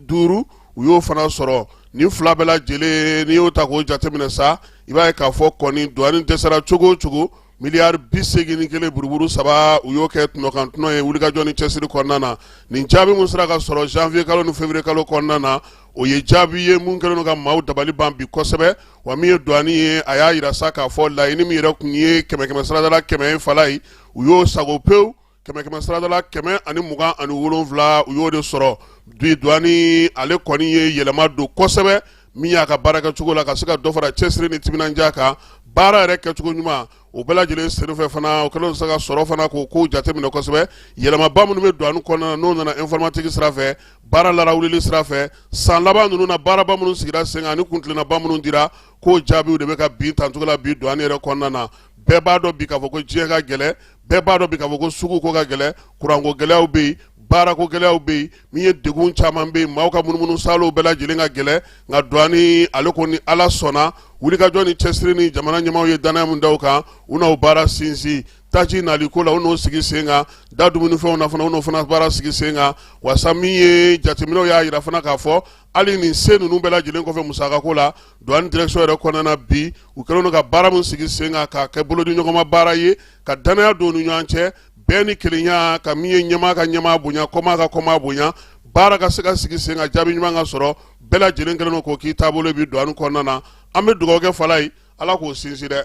duuru u y'o fana sɔrɔ nin fila bɛɛ lajɛlen n'i y'o ta k'o jateminɛ sa i b'a ye k'a fɔ kɔni douane dɛsɛra cogo o cogo miliyari bi segin ni kelen buruburu saba u y'o kɛ tɔnɔkan tɔnɔ ye wulikajɔ ni cɛsiri kɔnɔna na nin jaabi min sera ka sɔrɔ janvier kalo ni février kalo kɔnɔna na o ye jaabi ye mun kɛlen don ka maaw dabali ban bi kosɛbɛ wa min ye douane ye a y'a jira sa k'a fɔ laɲini min yɛrɛ tun ye kɛmɛ kɛmɛ sarada la kɛmɛ ye fala ye u y'o sago pewu kɛmɛ kɛmɛ saradala kɛmɛ ani mugan ani wolonwula u y'o de sɔrɔ bi douane ale kɔni ye yɛlɛma don kosɛbɛ min y'a ka baara kɛcogo la ka se ka dɔ fara cɛsiri ni timinandiya kan baara yɛrɛ kɛcogo ɲuman o bɛɛ lajɛlen senfɛ fana o kɛlen se ka sɔrɔ fana k'o kow jateminɛ kosɛbɛ yɛlɛmaba minnu bɛ douane kɔnɔna na n'o nana informatique sira fɛ baara larawuli sira fɛ san laban ninnu na baaraba minnu sigira sen kan ani kuntilennaba minnu dira k'o jaabiw de bɛ ka bin tan cogo la bi douane yɛrɛ kɔnɔna na bɛɛ b'a dɔn bi k'a fɔ ko diɲɛ ka gɛlɛn bɛɛ b'a dɔn bi k'a fɔ ko sugu ko ka gɛlɛ kuranko gɛlɛyaw bɛ yen baarako gɛlɛyaw bɛ yen min ye degun caman bɛ yen maaw ka munumunu saalow bɛɛ lajɛlen ka gɛlɛ nka douane ale kɔni ala sɔnna wulikajɔ ni cɛsiri ni jamana ɲɛmaaw ye danaya min da u kan u n'o baara sinsin taji nali ko la u n'o sigi sen kan da dumunifɛnw na fana u n'o fana baara sigi sen kan wasa min ye jateminɛw y'a jira fana k'a fɔ hali nin se ninnu bɛɛ lajɛlen kɔfɛ musakako la Douane direction yɛrɛ kɔnɔna na bi, u kɛlen don ka baara min sigi sen kan k'a kɛ bolodiɲɔgɔnma baara ye, ka danaya don u ni ɲɔgɔn cɛ, bɛn ni kelenya, ka min ye ɲɛmaa ka ɲɛmaa bonya, kɔmaa ka kɔmaa bonya, baara ka se ka sigi sen kan, jaabi ɲuman ka sɔrɔ, bɛɛ lajɛlen kɛlen don k'o k'i taabolo ye bi douane kɔnɔna na. An bɛ dugawu kɛ Fala ye, Ala k'o sinsin dɛ,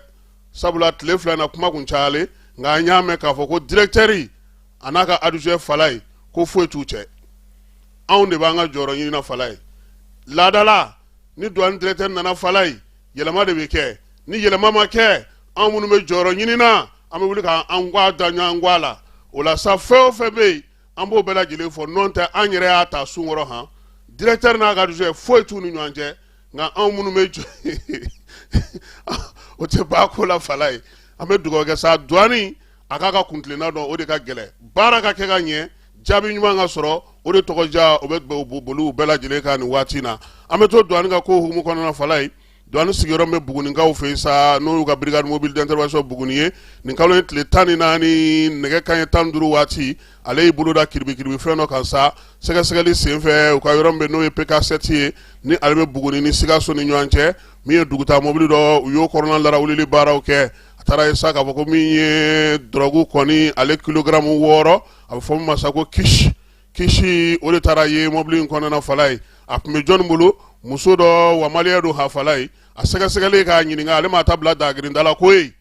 sabula tile fila in na, kuma tun cayalen, nka an y'a mɛn k'a fɔ ko directeur a n'a ka adjoint Fala ye, ko foyi t'u cɛ. Anw de b'an ka jɔyɔrɔ ɲini na Fala ye, laadala. ni douane directeur nana fala ye yɛlɛma de bɛ kɛ ni yɛlɛma ma kɛ an minnu bɛ jɔyɔrɔ ɲini na an bɛ wuli ka an gwa da ɲɔgɔn gwa la o la sa fɛn o fɛn bɛ yen an b'o bɛɛ lajɛlen fɔ n'o tɛ an yɛrɛ y'a ta sun kɔrɔ han directeur n'a ka adjoint foyi t'u ni ɲɔgɔn cɛ nka anw minnu bɛ jɔ o tɛ ba ko la fala ye an bɛ dugawu kɛ sa douane a k'a ka kuntilenna dɔn o de ka gɛlɛn baara ka kɛ ka ɲɛ jaabi ɲuman ka sɔrɔ o de tɔgɔ ja o bɛ boli u bɛɛ lajɛlen kan nin waati in na an bɛ to duwani ka ko hukumu kɔnɔna fala ye duwani sigiyɔrɔ bɛ bugunikaw fɛ yen sa n'o y'u ka brigade mobile d'intervention buguni ye nin kalo in tile tan ni naani nɛgɛ kanɲɛ tan ni duuru waati ale y'i bolo da kiribikiribi fɛn dɔ kan sa sɛgɛsɛgɛli senfɛ u ka yɔrɔ min bɛ n'o ye pk7 ye ni ale bɛ buguni ni sikaso ni ɲɔgɔn cɛ min ye dugutaa mobili dɔ u y'o kɔnɔna larawulili baaraw kɛ a taara ye sa k'a fɔ ko min ye dɔrɔgu kɔni ale kilogaramu wɔɔrɔ a bɛ fɔ min ma sa ko kush kush o de taara ye mɔbili in kɔnɔna fala ye a tun bɛ jɔnni bolo muso dɔ wa maliyɛn don a fala ye a sɛgɛsɛgɛli k'a ɲininka ale ma taa bila dagirinda la koyi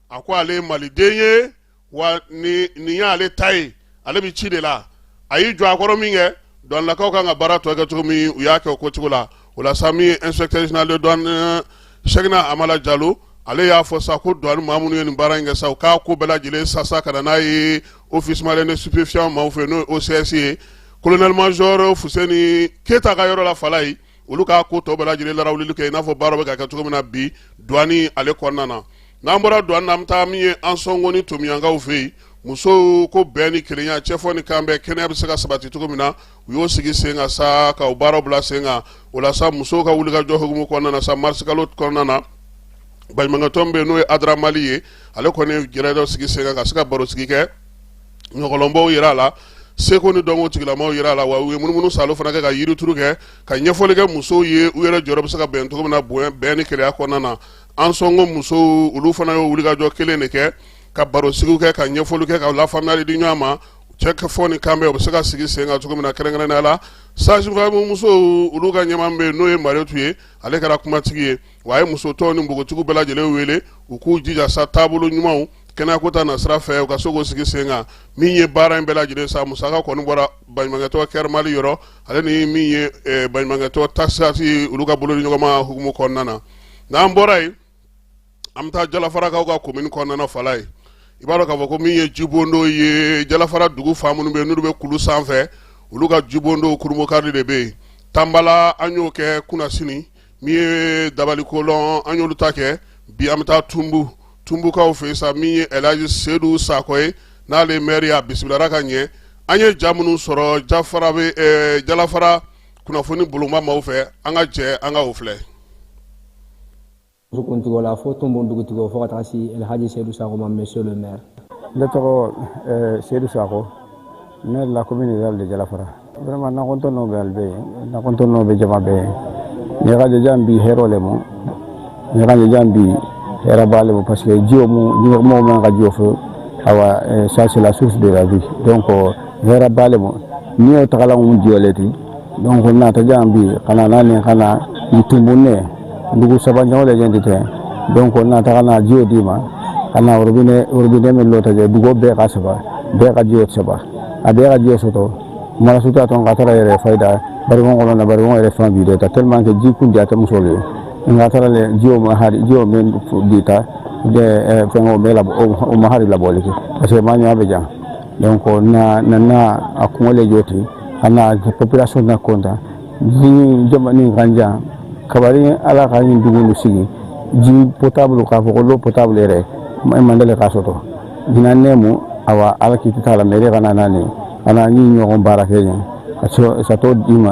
a ko ale maliden ye wa nin y'ale ta ye ale bɛ ci de la a y'i jɔ a kɔrɔ min kɛ douanelakaw kan ka baara tɔ kɛ cogo min u y'a kɛ o cogo la o la sa min ye inspecteur général de douane euh, Cheikhna Amala Jalo ale y'a fɔ sa ko douane maa minnu ye nin baara in kɛ sa u k'a ko bɛɛ lajɛlen sasa ka na n'a ye office malien de stupéfiant maaw fɛ n'o ye OCS ye colonel major Fuseni Keyita ka yɔrɔ la fala ye olu k'a ko tɔ bɛɛ lajɛlen larawulili kɛ i n'a fɔ baara bɛ ka kɛ cogo min na bi douane ale kɔnɔna na n'an bɔra douane na an bɛ taa min ye Ansongo ni Tominiankaw fɛ yen musow ko bɛn ni kelenya cɛfɔ ni kanbɛn kɛnɛya bɛ se ka sabati cogo min na u y'o sigi sen kan sa ka baara bila sen kan o la sa musow ka wulikajɔ hukumu kɔnɔna na sa marisikalo kɔnɔna na baɲumankɛtɔn bɛ yen n'o ye ADRA Mali ye ale kɔni ye gɛrɛ dɔ sigi sen kan ka se ka baro sigi kɛ ɲɔgɔlɔnbaw yira a la seko ni dɔnko tigilamaw yira a la wa u ye munumunusaalo fana kɛ ka yirituru kɛ ka ɲɛfɔli kɛ musow ye u yɛrɛ jɔyɔrɔ bɛ se ka bɛn cogo min na bonya bɛn ni kelenya kɔnɔna na Ansongo musow olu fana y'o wulikajɔ kelen de kɛ ka barosigiw kɛ ka ɲɛfɔli kɛ ka lafaamuyali di ɲɔgɔn ma cɛfɔ ni kanbɛn u bɛ se ka sigi sen kan cogo min na kɛrɛnkɛrɛnnenya la sage-femme musow olu ka ɲɛmaa bɛ yen n'o ye marietu ye ale kɛra kumatigi ye wa a ye muso tɔw ni npogotigiw bɛɛ lajɛlen wele u k'u jija sa taabolo ɲumanw kɛnɛyako ta nasira fɛ u ka se k'o sigi sen kan min ye baara in bɛɛ lajɛlen sa musaka kɔni bɔra baɲumankɛtɔn CARE Mali yɔrɔ ale ni min ye eh, baɲumankɛtɔn Tassaght olu ka bolodiɲɔgɔnma hukumu kɔnɔna na n'an bɔra yen an bɛ taa jalafarakaw ka komini kɔnɔna fala ye i b'a dɔn k'a fɔ ko min ye jibondo ye jalafara dugu fa minnu bɛ n'olu bɛ kulu sanfɛ olu ka jibondo kurunbonkari de bɛ yen tanbala an y'o kɛ kunasini min ye dabalikolɔn an y'olu ta kɛ bi an bɛ taa tunbu tunbukaw fɛ sa min ye ɛlaji sedu sakɔ ye n'ale mɛri y'a bisimila ka ɲɛ an ye ja minnu sɔrɔ jalafara kunnafoni boloma maaw fɛ an ka jɛ an ka o filɛ kuntigiw la fo tunbu dugutigiw fo ka taa se alhaji seyidu sako ma monsieur le maire ne tɔgɔ eh, seyidu sako maire de la commune rurale de jalafara vraiment na kɔntɔnno bɛ ali bɛɛ yen na kɔntɔnno bɛ jama bɛɛ yen ne ka je jan bi hɛrɛ le ma ɲagajan bi hɛrɛ b'ale ma parce que jiw mɔgɔw man ka jɔ fo awa ça c'est la source de la vie donc hɛrɛ b'ale ma n'i y'o tagala mu jiw le ti donc naatajan bi ka na n'a ni ka na ni tunbunnen dugu saba ɲɔgɔn de ɲɛ tɛ donc n'a taga n'a jiw d'i ma ka na robinet robinet min lɔ tajɛ dugu bɛɛ ka saba bɛɛ ka jiw saba a bɛɛ ka jiw sɔrɔ marasuta tɔn ka taga yɛrɛ fayida barikon kɔnɔ na barikon yɛrɛ fan bi dɛ ka tellement que ji kun ja tɛ muso le ye nka taara lɛ jiw ma hari jiw min dita de fɛngɛw bɛ labɔ o ma hari labɔli kɛ parce que maa ɲɛ bɛ jan donc na na na a kungo le jiw ti a na population na kontan ni jamana ka jan kabari ala ka nin dugu nin sigi ji potable k'a fɔ ko l'eau potable yɛrɛ e man deli k'a sɔrɔ ɲinan nɛmu awa ala k'i t'a la mairie kana n'a ni a n'a ni ɲɔgɔn baara kɛ ɲɛ ka sɔrɔ ka t'o d'i ma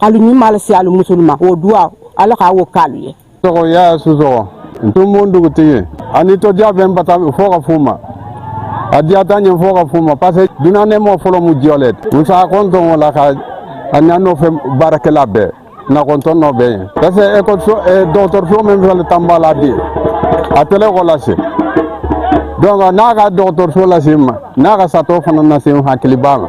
alu ni m'ala se alu musuluma o duwa ala k'a wo k'alu ye tɔgɔ y'a susɔgɔ ntumun dugutigi ani tɔdiya bɛ n bata fɔ ka f'u ma a diyata ɲɛ fɔ ka f'u ma parce que duniya nɛmɔ fɔlɔ mu jiw le ti n s'a kɔntɔn o la ka a ɲa nɔfɛ baarakɛla bɛɛ nakɔntɔn nɔ bɛ yen parce que ekɔliso dɔgɔtɔrɔso min fɛnɛ tan b'a la bi a tɛlɛ kɔ lase donc n'a ka dɔgɔtɔrɔso lase n ma n'a ka satɔ fana lase n hakili b'a la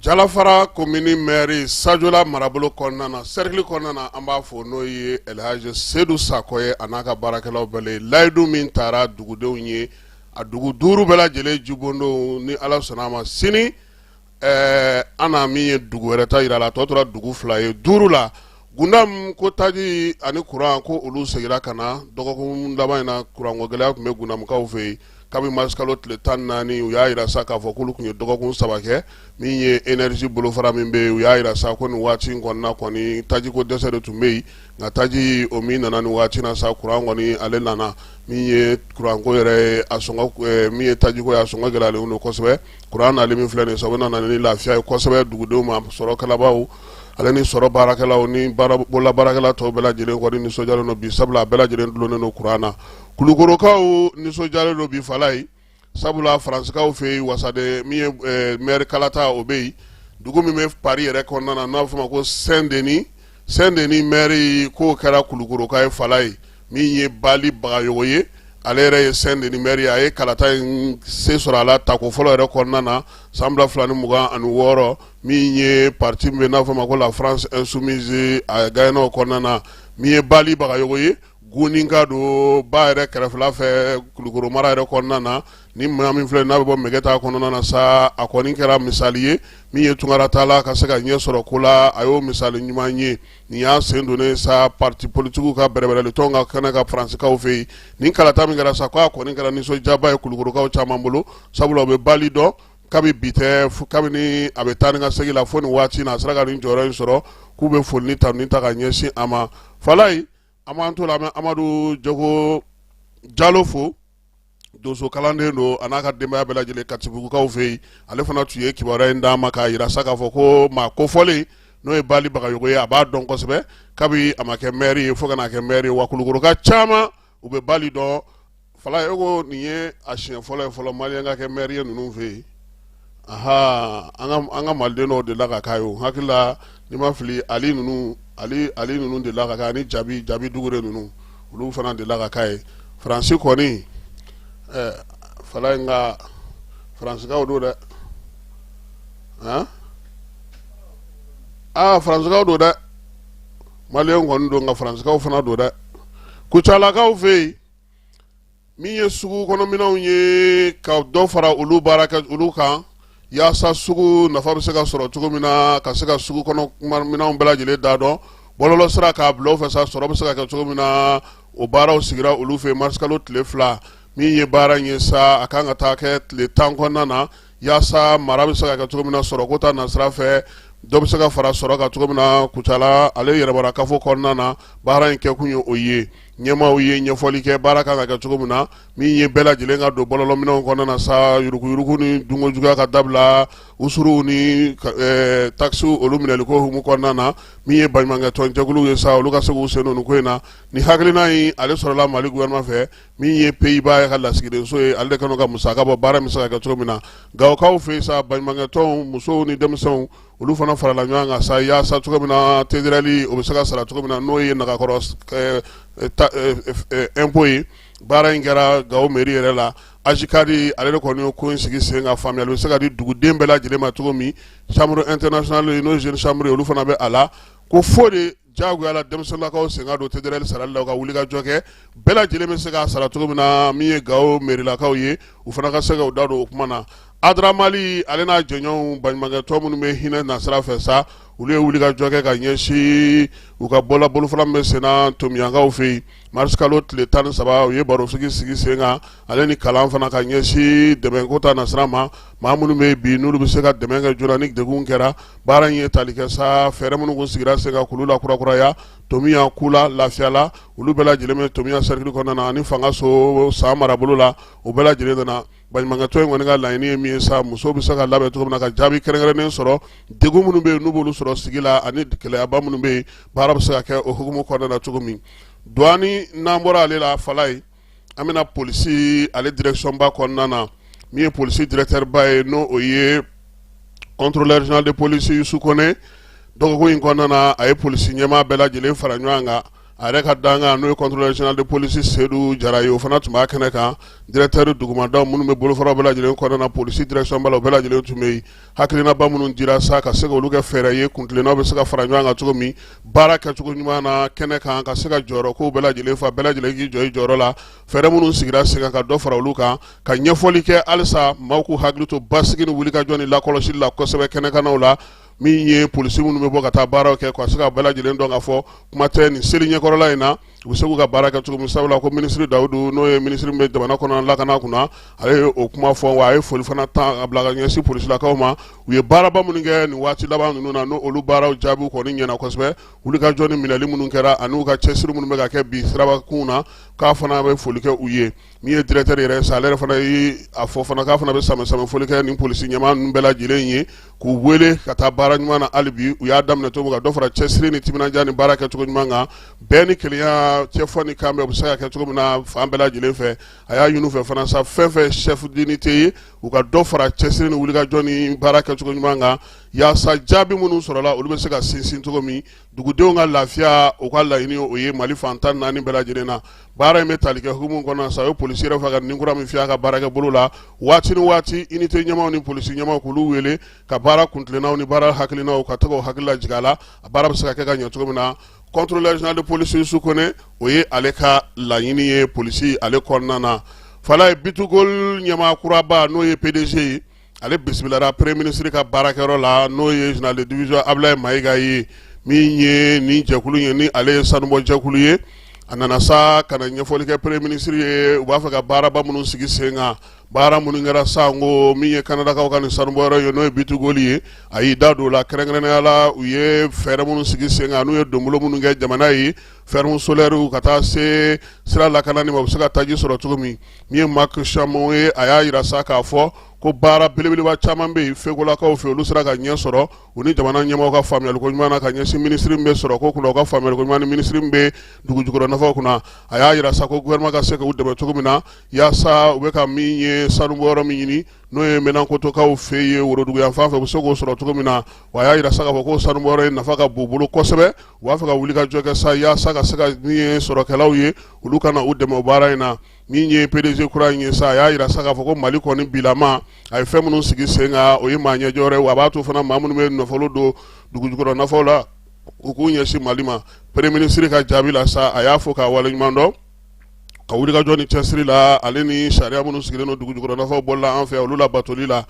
jalafara komini mɛri sajla marabolo kɔnɔna na sɛrikili kɔnɔna an b'a fɔ n'o ye alihaji sedu sakɔ ye a n'a ka baarakɛlaw bɛɛ layidu min tara dugudenw ye a dugu duuru bɛɛ lajɛlen jibondon ni ala sɔnna a ma sini an na min ye dugu wɛrɛ ta jira a la tɔ tora dugu fila ye duuru la gundamu ko taji ani kuran ko olu seginna ka na dɔgɔkun laban in na kuranko gɛlɛya tun bɛ gundamukaw fɛ yen kabini marisikalo tile tan naani u y'a jira sa k'a fɔ k'olu tun ye dɔgɔkun saba kɛ min ye énergie bolofara min bɛ u y'a jira sa ko nin waati in kɔnɔna kɔni tajiko dɛsɛ de tun bɛ yen nka taji o min nana nin waati na sa kuran kɔni ale nana min ye kuranko yɛrɛ a min ye tajiko ye a sɔngɔ gɛlɛyalen don kosɛbɛ kuran nali min filɛ nin sabu nana ni lafiya ye kosɛbɛ dugudenw ma sɔrɔ kalabaaw ale ni sɔrɔ baarakɛlaw ni bololabaarakɛla tɔw bɛɛ lajɛlen kɔni nisɔndiyalen don bi sabula a bɛɛ lajɛlen dulonnen don kuran na kulukorokaw nisɔndiyalen don bi falaye sabula faransikanw fɛ yen wasaden min ye eh, maire kalata o bɛ yen dugu min bɛ paris yɛrɛ kɔnɔna na n'a bɛ f'o ma ko saint denis saint denis maire k'o kɛra kulukoroka ye falaye min ye bali bagayogo ye ale yɛrɛ ye saint denis maire ye a ye kalata in se sɔrɔ a la tako fɔlɔ yɛrɛ kɔnɔna na san ba fila ni mugan ani wɔɔrɔ min ye parti min bɛ n'a f'o ma ko la france insoumise a gagnena o kɔnɔna na min ye bali bagayogo ye Guninka don ba yɛrɛ kɛrɛfɛla fɛ kulukɔrɔ mara yɛrɛ kɔnɔna na ni maa min filɛ n'a bɛ bɔ mɛgɛta kɔnɔna na sa a kɔni kɛra misali ye min ye tunkara taala ka se ka ɲɛ sɔrɔ ko la a y'o misali ɲuman ye nin y'a sen don sa pati politigiw ka bɛrɛbɛrɛli tɔn ka kɛnɛ kan faransikaw fɛ yen nin kalata min kɛra sa k' a kɔni kɛra nisɔndiyaba ye kulukorokaw caman bolo sabula u bɛ bali dɔn kabi bi tɛ kabini a bɛ taa ni ka segin la fo nin waati in na a sera ka nin jɔyɔrɔ in sɔrɔ k'u bɛ foli ni tanuni ta ka ɲɛsin a ma fa an b'an to o la an bɛ amadu jago jalo fo donso kalanden don a n'a ka denbaya bɛɛ lajɛlen katibugukaw fɛ yen ale fana tun ye kibaruya in d'an ma k'a yira sa k'a fɔ ko maa kofɔlen n'o ye bali bagayogo ye a b'a dɔn kosɛbɛ kabi a ma kɛ mɛri ye fo ka n'a kɛ mɛri ye wa kulukoroka caman u bɛ bali dɔn fala e ko nin ye a siɲɛ fɔlɔ ye fɔlɔ maliyɛn ka kɛ mɛri ye ninnu fɛ yen aha an ka maliden dɔw delila ka k'a ye o hakili la ni n ma fili ali ninnu ali ali ninnu delila ka k'a ani jabi jabi dukure ninnu olu fana delila ka k'a ye faransi kɔni eh, fala nka faransikaw don dɛ han aa ah, faransikaw don dɛ maliyɛnw kɔni don nka faransikaw fana don dɛ kucalakaw fɛ yen min ye sugu kɔnɔminɛnw ye ka dɔ fara olu baara kɛ olu kan yaasa sugu nafa bɛ se ka sɔrɔ cogo min na ka se ka sugu kɔnɔminɛnw bɛɛ lajɛlen da dɔn bɔlɔlɔ sira k'a bila o fɛ sa sɔrɔ bɛ se ka kɛ cogo min na o baaraw sigira olu fɛ marisikalo tile fila min ye baara ye sa a ka kan ka taa kɛ tile tan kɔnɔna na yaasa mara bɛ se ka kɛ cogo min na sɔrɔ ko ta nasira fɛ dɔ bɛ se ka fara sɔrɔ kan cogo min na kucala ale yɛrɛmara kafo kɔnɔna na baara in kɛkun ye o ye ɲɛmaaw ye ɲɛfɔli kɛ baara kan ka kɛ cogo min na min ye bɛɛ lajɛlen ka don bɔlɔlɔminɛnw kɔnɔna na sa yuruguyugu ni dunko juguya ka dabila usuruw ni eh, takisi olu minɛli ko hukumu kɔnɔna na min ye baɲumankɛtɔnjɛkuluw ye sa olu ka se k'u sen don ko in na ni hakilina in ale sɔrɔla mali gouvernement fɛ min ye peyiba ka lasigidenso ye ale de kan ka musaka bɔ baara min se ka kɛ cogo min na gawokaw fɛ yen sa baɲumankɛtɔnw musow ni denmisɛnw olu fana farala ɲɔgɔn kan sa yaasa cogo min na tederali o bɛ se ka sara cogo min na n'o ye nagakɔrɔ eh, eh, ta- eh, eh, eh, impôt ye baara in kɛra gawo meri yɛrɛ la ajikadi ale de kɔni ye ko in sigi sen kan faamuyali bɛ se ka di duguden bɛɛ lajɛlen ma cogo min chambre internationale ye n'o ye jeune chambre ye olu fana bɛ a la ko fo de Jagoya la denmisɛnninlakaw sen ka don tederali sarali la u ka wuli ka jɔ kɛ bɛɛ lajɛlen bɛ se k'a sara cogo min na min ye gawo merilakaw ye u fana ka se k'u da don o kuma na adramali ale n'a jɛɲɔgɔnw baɲumankɛtɔn minnu bɛ hinɛ nasira fɛ sa olu ye wuli ka jɔ kɛ ka ɲɛsin u ka bɔla bolofara min bɛ senna tominiyankaw fɛ yen marisikalo tile tan ni saba u ye barosigi sigi sen kan ale ni kalan fana ka ɲɛsin dɛmɛko ta nasira ma maa minnu bɛ bi n'olu bɛ se ka dɛmɛ kɛ joona ni degun kɛra baara in ye tali kɛ sa fɛɛrɛ minnu kun sigira sen kan k'olu lakurakuraya tomia kula lafiyala olu bɛɛ lajɛlen bɛ tomia cercle kɔnɔna na ani fangaso san marabolo la o bɛɛ lajɛlen nana Baɲumankɛtɔ in kɔni ka laɲini ye min ye sa, muso bɛ se ka labɛn cogo min na ka jaabi kɛrɛnkɛrɛnnen sɔrɔ degun minnu bɛ yen n'u b'olu sɔrɔ sigi la ani gɛlɛyaba minnu bɛ yen baara bɛ se ka kɛ o hukumu kɔnɔna na cogo min douane n'an bɔra ale la Falaye an bɛna polisi ale direction ba kɔnɔna na min ye polisi directeur ba ye n'o o ye contrôleur général de police Youssou Kone dɔgɔkun in kɔnɔna na a ye polisi ɲɛmaa bɛɛ lajɛlen fara ɲɔgɔn kan a yɛrɛ ka dankan n'o ye contrôleur général de police Seydou Jara ye o fana tun b'a kɛnɛ kan directeur dugumadaw minnu bɛ bolofaraw bɛɛ lajɛlen kɔnɔna na polisi direction ba la o bɛɛ lajɛlen tun bɛ yen hakilinaba minnu dira sa ka se k'olu kɛ fɛɛrɛ ye kuntilennaw bɛ se ka fara ɲɔgɔn kan cogo min baara kɛcogo ɲuman na kɛnɛ kan ka se ka jɔyɔrɔkow bɛɛ lajɛlen fa bɛɛ lajɛlen k'i jɔ i jɔyɔrɔ la fɛɛrɛ minnu sigira sen kan ka dɔ fara olu kan ka ɲɛfɔli kɛ halisa maaw k'u hakili to basigi ni wulikajɔ ni lakɔlɔsi la kosɛbɛ kɛnɛkanna la min ye polisi minnu bɛ bɔ ka taa baaraw kɛ ka se ka bɛɛ lajɛlen dɔn ka fɔ kuma tɛ nin seli ɲɛkɔrɔla in na u bɛ se k'u ka baara kɛ cogo min sabula ko minisiri Dawudu n'o ye minisiri min bɛ jamana kɔnɔ lakana kunna ale ye o kuma fɔ wa a ye foli fana ta k'a bila ka ɲɛsin polisilakaw ma u ye baaraba minnu kɛ nin waati laban ninnu na n'olu baaraw jaabiw kɔni ɲɛna kosɛbɛ wulikajɔ ni minɛli minnu kɛra an'u ka cɛsiri minnu bɛ ka kɛ bi sirabakunw na k'a fana bɛ foli kɛ u ye min ye directeur yɛrɛ sa ale yɛrɛ fana ye a fɔ fana k'a fana bɛ sanbɛ sanbɛ foli kɛ nin polisi ɲɛmaa ninnu bɛɛ lajɛlen ye k'u weele ka taa baara ɲuman na hali bi u y'a daminɛ cogo min u ka dɔ fara cɛsiri ni timinandiya ni baara kɛ cogo ɲuman kan bɛn ni kelenya cɛfɔ ni kanbɛn o bɛ se ka kɛ cogo min na fan bɛɛ lajɛlen fɛ a y'a ɲini u fɛ fana sa fɛn fɛn chef d'unité ye u ka dɔ fara cɛsiri ni wulikajɔ ni baara kɛ cogo ɲuman kan yaasa jaabi minnu sɔrɔla olu bɛ se ka sinsin cogo min dugudenw ka lafiya u ka laɲini o ye mali fan tan ni naani bɛɛ lajɛlen na baara in bɛ tali kɛ hukumu kɔnɔ sa o ye polisi yɛrɛ fɛ ka ni kura min fiyɛ a ka baarakɛbolo la waati ni waati unité ɲɛmaaw ni polisi ɲɛmaaw k'olu wele ka baara kuntilennaw ni baara hakilinaw ka to k'u hakili lajigin a la a baara bɛ se ka kɛ ka ɲɛ cogo min na contrôleur général de police Youssou Kone o ye ale ka laɲini ye polisi ale kɔnɔna na Falaye B2Gold ɲɛmaa kuraba n'o ye PDG ye ale bisimilala premier ministre ka baarakɛyɔrɔ la n'o ye général de division Ablaye Mayiga ye min ye nin jɛkulu ye ni ale ye sanubɔjɛkulu ye a nana sa ka na ɲɛfɔli kɛ premier ministre ye u b'a fɛ ka baaraba minnu sigi sen kan baara minnu kɛra sanko min ye kanadakaw ka nin sanubɔyɔrɔ ye n'o ye B2Gold ye a y'i da don o la kɛrɛnkɛrɛnnenya la u ye fɛɛrɛ minnu sigi sen kan n'u ye donbolo minnu kɛ jamana ye Ferme solaire ka taa se sira lakanani ma u bɛ se ka taji sɔrɔ cogo min min ye Mike Cinnamond ye a y'a jira sa k'a fɔ ko baara belebeleba caman bɛ yen Fekolakaw fɛ olu sera ka ɲɛ sɔrɔ u ni jamana ɲɛmɔgɔw ka faamuya ɲɔgɔn ka ɲɛsin minisiri min bɛ sɔrɔko kunna u ka faamuya ɲɔgɔn ni minisiri min bɛ dugujukɔrɔ nafaw kunna a y'a jira sa ko gouvernement ka se k'u dɛmɛ cogo min na yaasa u bɛ ka min ye sanu bɔyɔrɔ min ɲini n'o ye Menankotokaw fɛ ye worodugu yanfan fɛ u bɛ se k'o sɔrɔ cogo min na wa a y'a jira sa k'a fɔ ko sanu bɔyɔrɔ in nafa ka bon u bolo kosɛbɛ u b'a fɛ ka wulikajɔ kɛ sa yaasa ka se ka min ye sɔrɔkɛlaw ye olu ka na u dɛmɛ o baara in na min ye PDG kura in ye sa a y'a jira sa k'a fɔ ko Mali kɔni bilama a ye fɛn minnu sigi sen kan o ye maa ɲɛjɔ wɛrɛ ye wa a b'a to fana maa minnu bɛ nafolo don dugujukɔrɔ nafaw la u k'u ɲɛsin Mali ma Premier ministre ka jaabi la sa a y'a fo k'a waleɲuman dɔn ka wulikajɔ ni cɛsiri la ale ni sariya minnu sigilen don dugujukɔrɔ nafaw bɔli la an fɛ olu labatoli la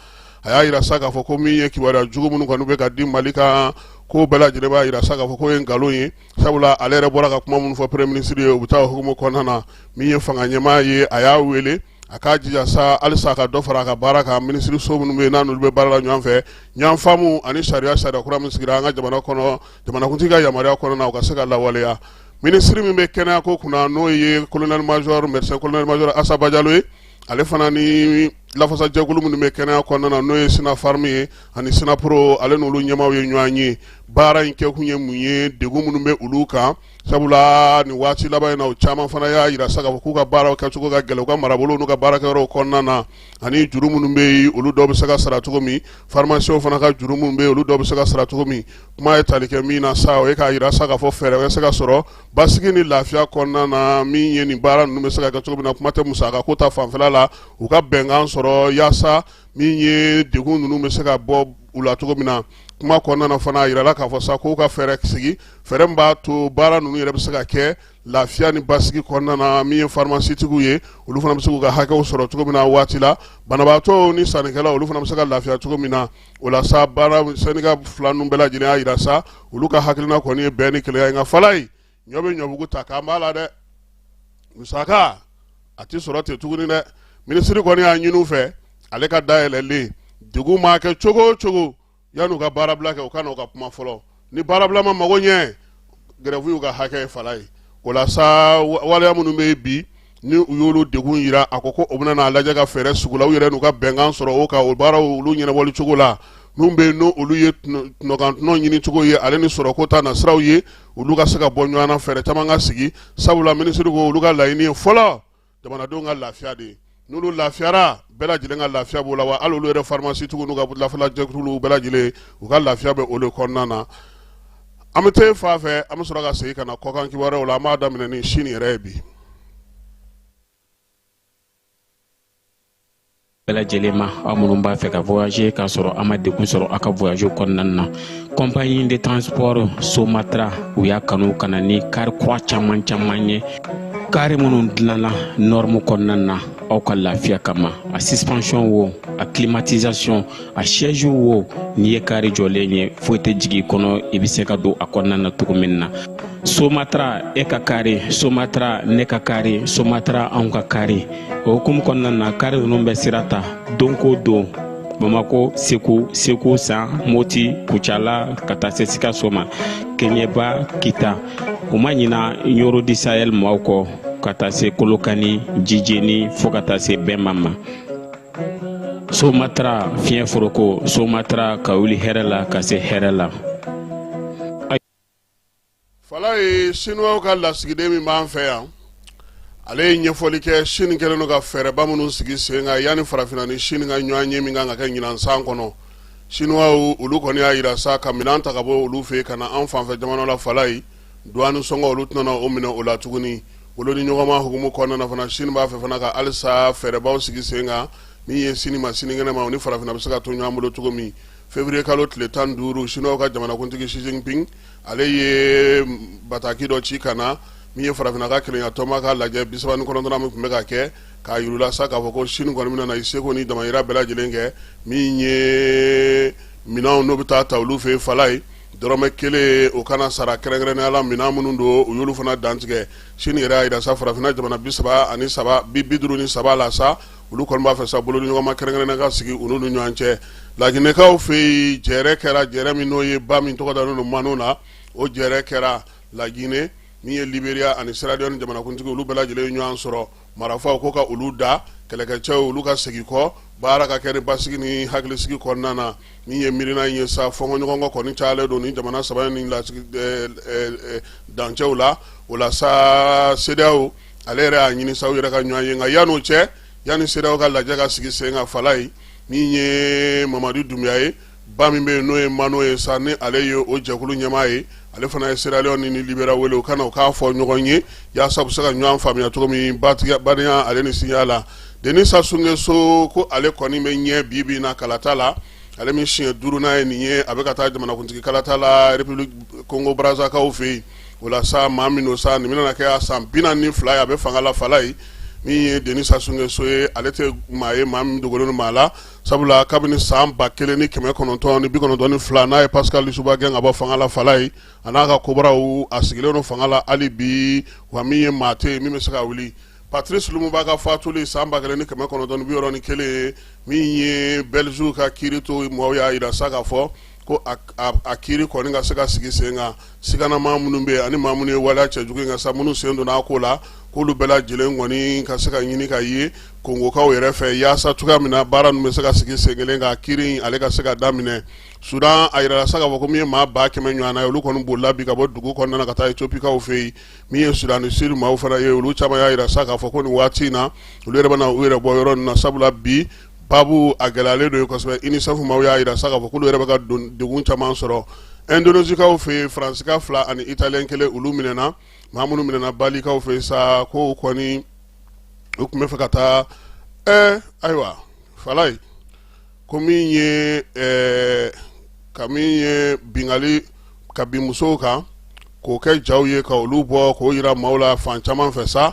a y'a jira sa k'a fɔ ko min ye kibaruya jugu minnu kɔni bɛ ka di Mali kan k'o bɛɛ lajɛlen b'a jira sa k'a fɔ k'o ye nkalon ye sabula ale yɛrɛ bɔra ka kuma minnu fɔ premier ministre ye u bɛ taa o hukumu kɔnɔna na min ye fanga ɲɛmaa ye a y'a wele a k'a jija sa halisa a ka dɔ fara a ka baara kan minisiriso minnu bɛ yen n'olu bɛ baara la ɲɔgɔn fɛ ɲɔgɔn faamu ani sariya sariya kura min sigira an ka jamana kɔnɔ jamanakuntigi ka yamaruya kɔnɔna o ka se ka lawaleya minisiri min bɛ kɛnɛya ko kunna n'o ye colonel major médecin colonel major Assa Badiallo ye ale fana ni lafasajɛkulu minnu bɛ kɛnɛya kɔnɔna na n'o ye Synapharm ye ani Synappo ale n'olu ɲɛmaaw ye ɲɔgɔn ye baara in kɛkun ye mun ye degun minnu bɛ olu kan Sabula ni waati laban in na caman fana y'a jira sa k'u ka baara kɛcogo ka gɛlɛn u ka marabolo n'u ka baara yɔrɔ kɔnɔna na ani juru minnu bɛ yen olu dɔw bɛ se ka sara cogo min pharmacienw fana ka juru minnu bɛ yen olu dɔw bɛ se ka sara cogo min kuma ye tali kɛ min na sa o ye k'a jira sa k'a fɔ fɛɛrɛ bɛ se ka sɔrɔ basigi ni lafiya kɔnɔna na min ye nin baara ninnu bɛ se ka kɛ cogo min na kuma tɛ musakako ta fanfɛ la u ka bɛnkan sɔrɔ yaasa min ye degun ninnu bɛ se ka bɔ u la cogo min na kuma kɔnɔna fana a jirala k'a fɔ sa k'u ka fɛɛrɛ sigi fɛɛrɛ min b'a to baara ninnu yɛrɛ bɛ se ka kɛ lafiya ni basigi kɔnɔna na min ye farimasitigiw ye olu fana bɛ se k'u ka hakɛw sɔrɔ cogo min na waati la banabaatɔw ni sannikɛlaw olu fana bɛ se ka lafiya cogo min na o la sa baara sɛndika fila ninnu bɛɛ lajɛlen y'a jira sa olu ka hakilina kɔni ye bɛn ni kelenya ye nka Falaye ɲɔ bɛ ɲɔbugu ta k'an b'a la dɛ musaka a tɛ sɔrɔ ten tuguni dɛ minisiri kɔni y'a ɲini u fɛ ale ka da yɛlɛlen degun maa kɛ cogo o cogo yan'u ka baarabila kɛ u ka na u ka kuma fɔlɔ ni baarabila ma mago ɲɛ gɛrɛfu y'u ka hakɛ ye Falaye o la sa waleya minnu bɛ yen bi ni u y'olu degun jira a ko ko o bɛna n'a lajɛ ka fɛɛrɛ sugu la u yɛrɛ n'u ka bɛnkan sɔrɔ o kan o baaraw olu ɲɛnabɔli cogo la minnu bɛ yen n'olu ye tɔnɔkan tɔnɔ ɲini cogo ye ale ni sɔrɔko ta nasiraw ye olu ka se ka bɔ ɲɔgɔn na fɛɛrɛ caman ka sigi sabula minisiri ko olu ka laɲini ye fɔlɔ jamanadenw ka lafiya de n'olu lafiyara bɛɛ lajɛlen ka lafiya b'o la wa hali olu yɛrɛ farimasitigiw n'u ka lafasajɛkuluw bɛɛ lajɛlen u ka lafiya bɛ olu kɔnɔna na an bɛ taa fa fɛ an bɛ sɔrɔ ka segin ka na kɔkan kibaruyaw la an b'a daminɛ ni sini yɛrɛ ye bi bɛɛ lajɛlen ma aw minnu b'a fɛ ka voyager k'a sɔrɔ a ma degun sɔrɔ a ka voyage kɔnɔna na compagnie de transport somatra u y'a kanu ka na ni kari kura caman caman ye kari minnu dilanna nɔrmu kɔnɔna na aw ka lafiya kama a suspension wo a climatisation a siège wo n'i ye kari jɔlen ye foyi tɛ jigin kɔnɔ i bɛ se ka don a kɔnɔna na cogo min na somatra e ka kari somatra ne ka kari somatra anw ka kari o hukumu kɔnɔna na kari ninnu bɛ sira ta don ko don bamako segu segu san moti kucala ka taa se sikaso ma keɲɛba kita u ma ɲina ɲoro du sahɛl maaw kɔ ka taa se kolokani jijeni fɔɔ ka taa se bɛma ma somatara fiɲɛ foroko somatara ka wuli hɛrɛ la ka se hɛrɛ la Falaye sinuwaw ka lasigiden min b'an fɛ yan ale ye ɲɛfɔli kɛ sini kɛlen don ka fɛɛrɛba minnu sigi sen kan yanni farafinna ni sini ka ɲɔgɔnye min kan ka kɛ ɲinan san kɔnɔ sinuwaw olu kɔni y'a yira sa ka minɛn ta ka bɔ olu fɛ ka na an fanfɛ jamana la Falaye Douane sɔngɔ olu tɛna o minɛ o la tuguni bolodiɲɔgɔnma hukumu kɔnɔna na fana Chine b'a fɛ fana ka halisa fɛɛrɛbaw sigi sen kan min ye sini ma sinikɛnɛ ma u ni farafinna bɛ se ka to ɲɔgɔn bolo cogo min février kalo tile tan ni duuru Chinois ka jamanakuntigi Xi Jinping ale ye bataki dɔ ci ka na min ye farafinna ka kelenyatɔnba ka lajɛ bi saba ni kɔnɔntɔnnan min tun bɛ ka kɛ k'a yirula sa k'a fɔ ko Chine kɔni bɛna na i seko ni damayira bɛɛ lajɛlen kɛ min ye minɛnw n'o bɛ taa ta olu fɛ yen Falaye Dɔrɔmɛ kelen o kana sara kɛrɛnkɛrɛnnenya la minɛn minnu don u y'olu fana dantigɛ sini yɛrɛ y'a yira sa farafinna jamana bi saba ani saba bi bi duuru ni saba la sa olu kɔni b'a fɛ sa bolodiɲɔgɔnma kɛrɛnkɛrɛnnen ka sigi olu ni ɲɔgɔn cɛ laginɛkaw fɛ yen jɛrɛ kɛra jɛrɛ min n'o ye ba min tɔgɔ dalen don Manu na o jɛrɛ kɛra laginɛ min ye Libéria ani Sierra Leone jamanakuntigi olu bɛɛ lajɛlen ɲɔgɔn sɔrɔ marafaw ko ka olu da kɛlɛkɛcɛw olu ka segin kɔ baara ka kɛ ni basigi ni hakilisigi kɔnɔna na min ye miirina in ye sa fɔɲɔgɔnkɔ kɔni cayalen don nin jamana saba nin dancɛw la o la sa CEDEAO ale yɛrɛ y'a ɲini sa u yɛrɛ ka ɲɔgɔn ye nka yanni o cɛ yanni CEDEAO ka lajɛ ka sigi sen kan Falaye min ye Mamadi Dumbuya ye ba min bɛ yen n'o ye mano ye sa ni ale ye o jɛkulu ɲɛmaa ye ale fana ye sierra leone ni liberia wele u ka na u k'a fɔ ɲɔgɔn ye yaasa u bɛ se ka ɲɔgɔn faamuya cogo min na badenya ale ni sinjiya la denis sassou nguesso ko ale kɔni bɛ ɲɛ bi bin na kalata la ale min siɲɛ duurunan ye nin ye a bɛ ka taa jamanakuntigi kalata la république kongo brazzakaw fɛ yen o la sa maa min don sa nin bɛna kɛ a san bi naani ni fila ye a bɛ fanga la fala ye min ye denis sassou nguesso ye ale tɛ maa ye maa min dogolen maa la sabula kabini san ba kelen ni kɛmɛ kɔnɔntɔn ni bi kɔnɔntɔn ni fila n'a ye pascal lissouba gɛn ka bɔ fanga la fala ye a n'a ka kobraw a sigilen don fanga la hali bi wa min ye maa tɛ yen min bɛ se ka wuli patrice lumumba ka fatuli san ba kelen ni kɛmɛ kɔnɔntɔn ni bi wɔɔrɔ ni kelen min ye bɛliziw ka kiirito maaw y'a jira sa ka fɔ ko a kiiri kɔni ka se ka sigi sen kan siganamaa minnu bɛ ani maa minnu ye waleya cɛjugu in kɛ sa minnu sen donna a ko la k'olu bɛɛ lajɛlen kɔni ka se ka ɲini ka ye kongokaw yɛrɛ fɛ yaasa cogoya min na baara ninnu bɛ se ka sigi sen kelen kan kiiri ale ka se ka daminɛ sudan a jirala sa k'a fɔ ko min ye maa ba kɛmɛ ɲɔgɔnna ye olu kɔni bolila bi ka bɔ dugu kɔnɔna ka taa etiyopikaw fɛ yen min ye sudan du sud maaw fana ye olu caman y'a jira sa k'a fɔ ko nin waati in na olu yɛrɛ bɛna u yɛrɛ bɔ yɔrɔ na sabula bi babu a gɛlɛyalen don kosɛbɛ unicef maaw y'a jira sa k'a fɔ k'olu yɛrɛ bɛ ka degun caman sɔrɔ indonezikaw fɛ yen faransika fila ani italiyɛn kelen olu minɛna maa minnu minɛna balikaw fɛ yen sa ko kɔni u tun bɛ fɛ ka taa ɛɛ ayiwa fala ye ko min ye ɛɛ ka min ye binkanni ka bin musow kan k'o kɛ jaw ye ka olu bɔ k'o jira maaw la fan caman fɛ sa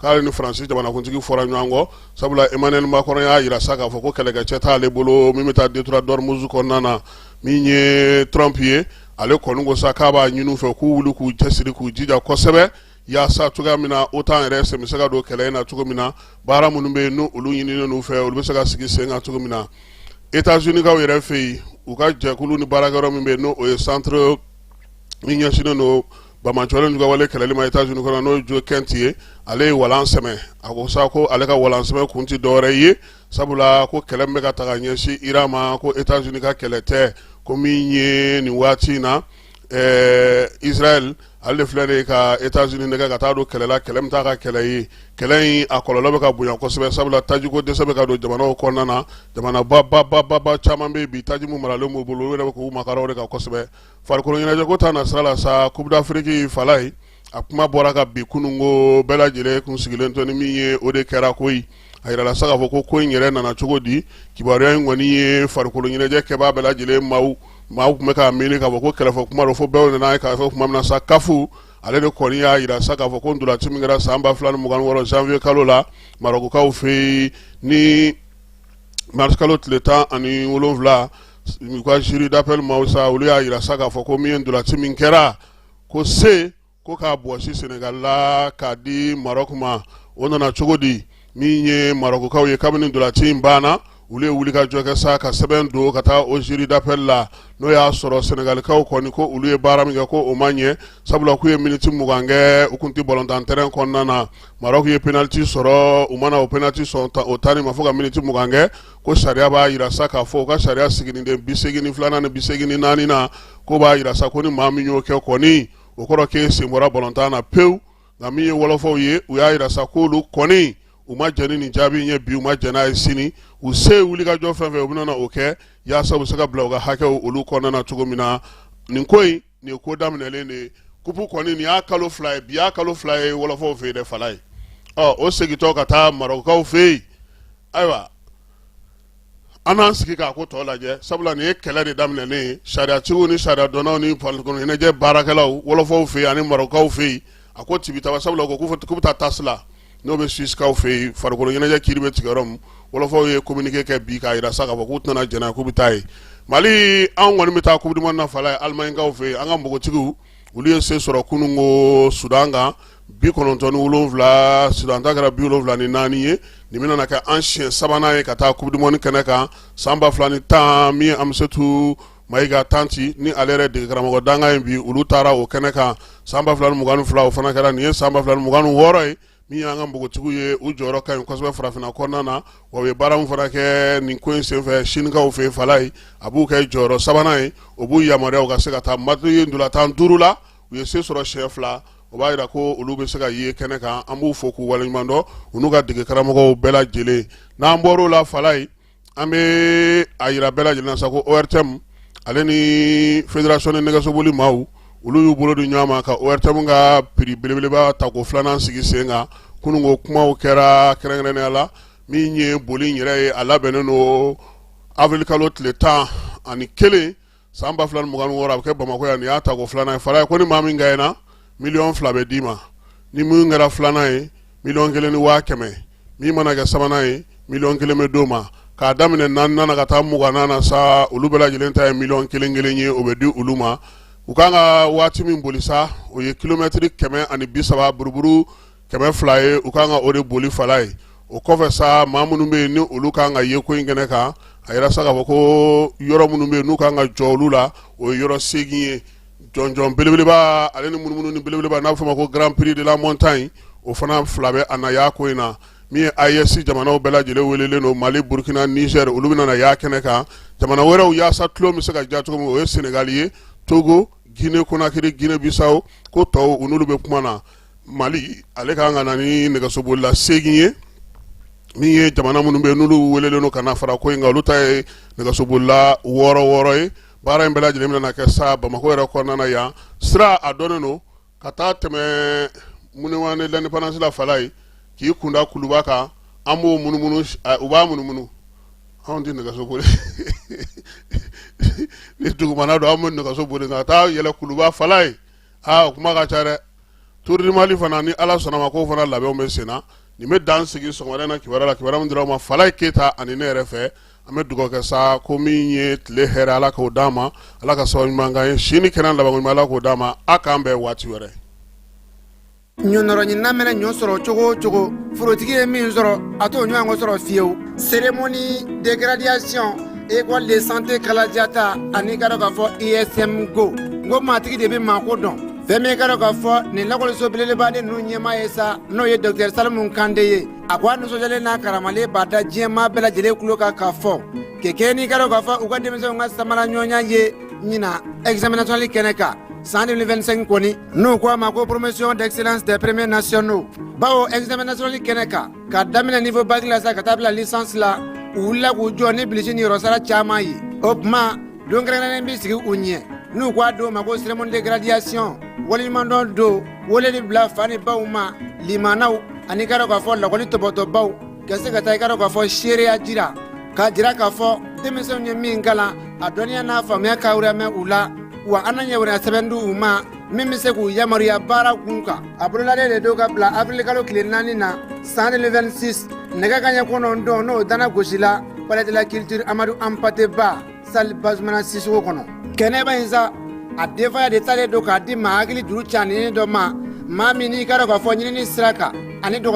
k'ale ni faransi jamanakuntigi fɔra ɲɔgɔn kɔ sabula emmanuel macron y'a jira sa k'a fɔ ko kɛlɛkɛcɛ t'ale bolo min bɛ taa détroit d'ormuz kɔnɔna na min ye trump ye ale kɔni ko sa k'a b'a ɲini u fɛ k'u wuli k'u cɛsiri k'u jija kosɛbɛ yaasa cogoya min na otan yɛrɛ sen bɛ se ka don kɛlɛ in na cogo min na baara minnu bɛ yen n'olu ɲininen n'u fɛ olu bɛ se ka sigi sen kan cogo min na etats-uniskaw yɛrɛ fɛ yen u ka jɛkulu ni baarakɛyɔrɔ min bɛ yen n'o ye centre min ɲɛsinnen don Bamacɔlenw ka wale kɛlɛli ma États-Unis kɔnɔ n'o ye Joe Kent ye ale ye walan sɛmɛ a ko sa ko ale ka walan sɛmɛ kun tɛ dɔwɛrɛ ye sabula ko kɛlɛ min bɛ ka ta ka ɲɛsin Iran ma ko États-Unis ka kɛlɛ tɛ ko min ye nin waati in na Israël ale de filɛ de ka États-Unis nɛgɛn ka taa don kɛlɛ la kɛlɛ min t'a ka kɛlɛ ye kɛlɛ in a kɔlɔlɔ bɛ ka bonya kosɛbɛ sabula tajiko dɛsɛ bɛ ka don jamanaw kɔnɔna na jamanaba caman bɛ yen bi taji min maralen b'u bolo olu yɛrɛ bɛ k'u makara o de kan kosɛbɛ Farikolo ɲɛnajɛko ta na sira la sa coupe d'Afrique fala ye a kuma bɔra kabini kunun ko bɛɛ lajɛlen kun sigilen to ni min ye o de kɛra koyi a jirala sa k'a fɔ ko ko in yɛrɛ nana cogo di kibaruya in kɔni ye farikolo ɲɛnajɛ kɛbaa bɛɛ lajɛlen maaw maaw tun bɛ k'a miiri k'a fɔ ko kɛlɛfɔ kuma don fo bɛɛ nana a ye k'a fɔ tuma min na sa CAF ale de kɔni y'a jira sa k'a fɔ ko ntolaci min kɛra san ba fila ni mugan ni wɔɔrɔ janvier kalo la marɔkukaw fɛ yen ni mars kalo tile tan ani wolonwula u ka jury d'appel maaw sa olu y'a jira sa k'a fɔ ko min ye ntolanci min kɛra ko se ko k'a bɔsi Senegal la k'a di Maroc ma o nana cogo di min ye Marɔkukaw ye kabini ntolanci in banna olu ye wulikajɔ kɛ sa ka sɛbɛn don ka taa o jury d'appel la n'o y'a sɔrɔ Senegalikaw kɔni ko olu ye baara min kɛ ko o ma ɲɛ sabula k'u ye miniti mugan kɛ u kun tɛ balontan terrain kɔnɔna na Maroc ye penalty sɔrɔ u mana o penalty sɔrɔ o tanni ma fo ka miniti mugan kɛ ko sariya b'a jira sa k'a fɔ u ka sariya siginiden bi segin ni filanan ni bi segin ni naaninan ko b'a jira sa ko ni maa min y'o kɛ kɔni o kɔrɔ k'e sen bɔra balontan na pewu nka min ye wɔlɔfɔw ye u y'a jira sa k'olu kɔni u ma jɛn ni nin jaabi in ye bi u ma jɛn n'a ye sini u se ye wulikajɔ fɛn fɛn u bɛna o kɛ yaasa u bɛ se ka bila u ka hakɛw olu kɔnɔna na cogo min na nin ko in nin ye ko daminɛlen de ye kupu kɔni nin y'a kalo fila ye bi y'a kalo fila ye wɔlɔfɔw fɛ yen dɛ Falaye ɔ o segintɔ ka taa Marɔkukaw fɛ yen ayiwa an n'an sigi k'a ko tɔ lajɛ sabula nin ye kɛlɛ de daminɛnen ye sariyatigiw ni sariyadɔnnaw ni farikolo ɲɛnajɛ baarakɛlaw wɔlɔfɔw fɛ yen ani Marɔkukaw fɛ yen a ko tibi taa sabula ko k'u bɛ taa TAS la n'o bɛ Suissekaw fɛ yen farikolo ɲɛnajɛ kiiri bɛ tigɛ yɔrɔ min wɔlɔfɔw ye kominike kɛ bi k'a jira sa k'a fɔ k'u tɛna jɛn n'a k'u bɛ taa yen Mali anw kɔni bɛ taa Coupe du Monde na Falaye Alimanikaw fɛ yen an ka npogotigiw olu ye se sɔrɔ kunun ko Sudan kan bi kɔnɔntɔn ni wolonwula Sudan ta kɛra bi wolonwula ni naani ye nin bɛna kɛ an siɲɛ sabanan ye ka taa Coupe du Monde kɛnɛ kan san ba fila ni tan min Amsetu Mayiga Tanti ni ale yɛrɛ dege karamɔgɔ dankan ye bi olu taara o kɛnɛ kan san ba fila mugan fila o fana kɛra nin ye san ba fila mugan wɔɔrɔ ye min y'an ka npogotigiw ye u jɔyɔrɔ ka ɲi kosɛbɛ farafinna kɔnɔna na wa u ye baara min fana kɛ nin ko in senfɛ Sinikaw fɛ Falaye a b'u kɛ jɔyɔrɔ sabanan ye o b'u yamaruya u ka se ka taa match ntolatan duuru la u ye se sɔrɔ siɲɛ fila o b'a jira ko olu bɛ se ka ye kɛnɛ kan an b'u fo k'u waleɲumandɔn u n'u ka dege karamɔgɔw bɛɛ lajɛlen n'an bɔr'o la Falaye an bɛ a jira bɛɛ lajɛlen na sa ko ORTM ale ni fédération ni nɛgɛsoboli maaw olu y'u bolo di ɲɔgɔn ma ka ORTM ka prix belebeleba ta ko filanan sigi sen kan kunun ko kumaw kɛra kɛrɛnkɛrɛnnenya la min ye boli yɛrɛ ye a labɛnnen don avril kalo tile tan ani kelen san ba fila ni mugan wɔɔrɔ a bɛ kɛ bamakɔ yan nin y'a ta ko filanan ye Falaye ko ni maa min gaɲena miliyɔn fila bɛ d'i ma ni min kɛra filanan ye miliyɔn kelen ni waa kɛmɛ min mana kɛ sabanan ye miliyɔn kelen bɛ d'o ma k'a daminɛ naaninan na ka taa mugannan na sa olu bɛɛ lajɛlen ta ye miliyɔn kelen kelen ye o bɛ di olu ma u kan ka waati min boli sa o ye kilomɛtiri kɛmɛ ani bi saba buruburu kɛmɛ fila ye u kan ka o de boli Falaye o kɔfɛ sa maa minnu bɛ yen ni olu kan ka ye ko in kɛnɛ kan a yɛrɛ sa k'a fɔ ko yɔrɔ minnu bɛ yen n'u kan ka jɔ olu la o ye yɔrɔ segin ye jɔnjɔn belebeleba ale ni munumunu ni belebeleba n'a bɛ fɔ a ma ko Grand Prix de la Montagne o fana fila bɛ a na y'a ko in na min ye AES jamanaw bɛɛ lajɛlen welelen don Mali Burkina Niger olu bɛna na y'a kɛnɛ kan jamana wɛrɛw yaasa tulon bɛ se ka diya cogo min o ye Senegal ye Togo Guinée Conakry Guinée Bissau ko tɔw u n'olu bɛ kuma na Mali ale ka kan ka na ni nɛgɛsobolila segin ye min ye jamana minnu bɛ yen n'olu welelen don ka na fara ko in kan olu ta ye nɛgɛsobolila wɔɔrɔ wɔɔrɔ ye baara in bɛɛ lajɛlen bɛna kɛ sa Bamakɔ yɛrɛ kɔnɔna yan sira a dɔnnen don ka taa tɛmɛ Monument de l'Indépendance la Falaye k'i kunda Kuluba kan an b'o munumunu u b'a munumunu anw tɛ nɛgɛsoboli ni dugumana don an bɛ nɛgɛso boli ka taa yɛlɛ Kuluba Falaye aa o kuma ka ca dɛ Tour du Mali fana ni Ala sɔnn'a ma k'o fana labɛnw bɛ sen na nin bɛ dan sigi sɔgɔmada in na kibaruya la kibaruya min dira aw ma Falaye Keyita ani ne yɛrɛ fɛ an bɛ dugawu kɛ sa ko min ye tile hɛrɛ Ala k'o d'an ma Ala ka sababu ɲuman k'an ye si ni kɛnɛya labankoɲuman Ala k'o d'an ma a k'an bɛn waati wɛrɛ ɲɔnɔrɔɲinina mɛnɛ ɲɔ sɔrɔ cogo o cogo forotigi ye min sɔrɔ a t'o ɲɔgɔn sɔrɔ fiyewu cérémonie de graduation école de santé Kalajata ani i ka dɔn k'a fɔ ISM ko n ko maatigi de bɛ maako dɔn fɛn min ka dɔn k'a fɔ nin lakɔliso belebeleba de ninnu ɲɛmaa ye sa n'o ye dɔkitɛri Salimu Kante ye a ko a nisɔndiyalen n'a karamalen b'a da diɲɛmaa bɛɛ lajɛlen tulo kan k'a fɔ kɛ kɛ n'i ka dɔn k'a fɔ u ka denmisɛnw ka samara ɲɔgɔnya ye ɲinan examen national kɛnɛ kan San defɛnsen kɔni n'o ko a ma ko poromosiyon dɛsɛsirapme nayon baw ezmɛli kɛnɛ kan ka daminɛ ni fɔ basi la sa ka taa bila sansi u la k'u jɔ ni bilisi ni yɔrɔsara caman ye o tuma donkɛrɛnnen bɛ sigi u ɲɛ n'u k'a don ma ko sm de gradisi walimadɔ don wali de bila fa ni baw ma limanaw ani kɛra k'a fɔ lakɔli tɔtɔbaw Ka se ka taa i ka dɔn k'a fɔ seereya jira k'a jira k'a fɔ denmisɛnw ye min kalan a dɔnniya n'a faamuya ka mɛn u la wa an na ɲɛ wɛrɛ sɛbɛn di u ma min bɛ se k'u yamaruya baara kun kan a bolodalen de don ka bila awirilikalo tile naani na san deux mille vingt-six nɛgɛ kanɲɛ kɔnɔntɔn n'o tanan gosila Palais de la Culture Amadou Hampâté Bâ salle Bazoumana Sissoko kɔnɔ kɛnɛba in sa a denfaya de talen don k'a di maa hakili duuru ca ni dɔ ma maa min n'i ka dɔn k'a fɔ ɲinini sira kan ani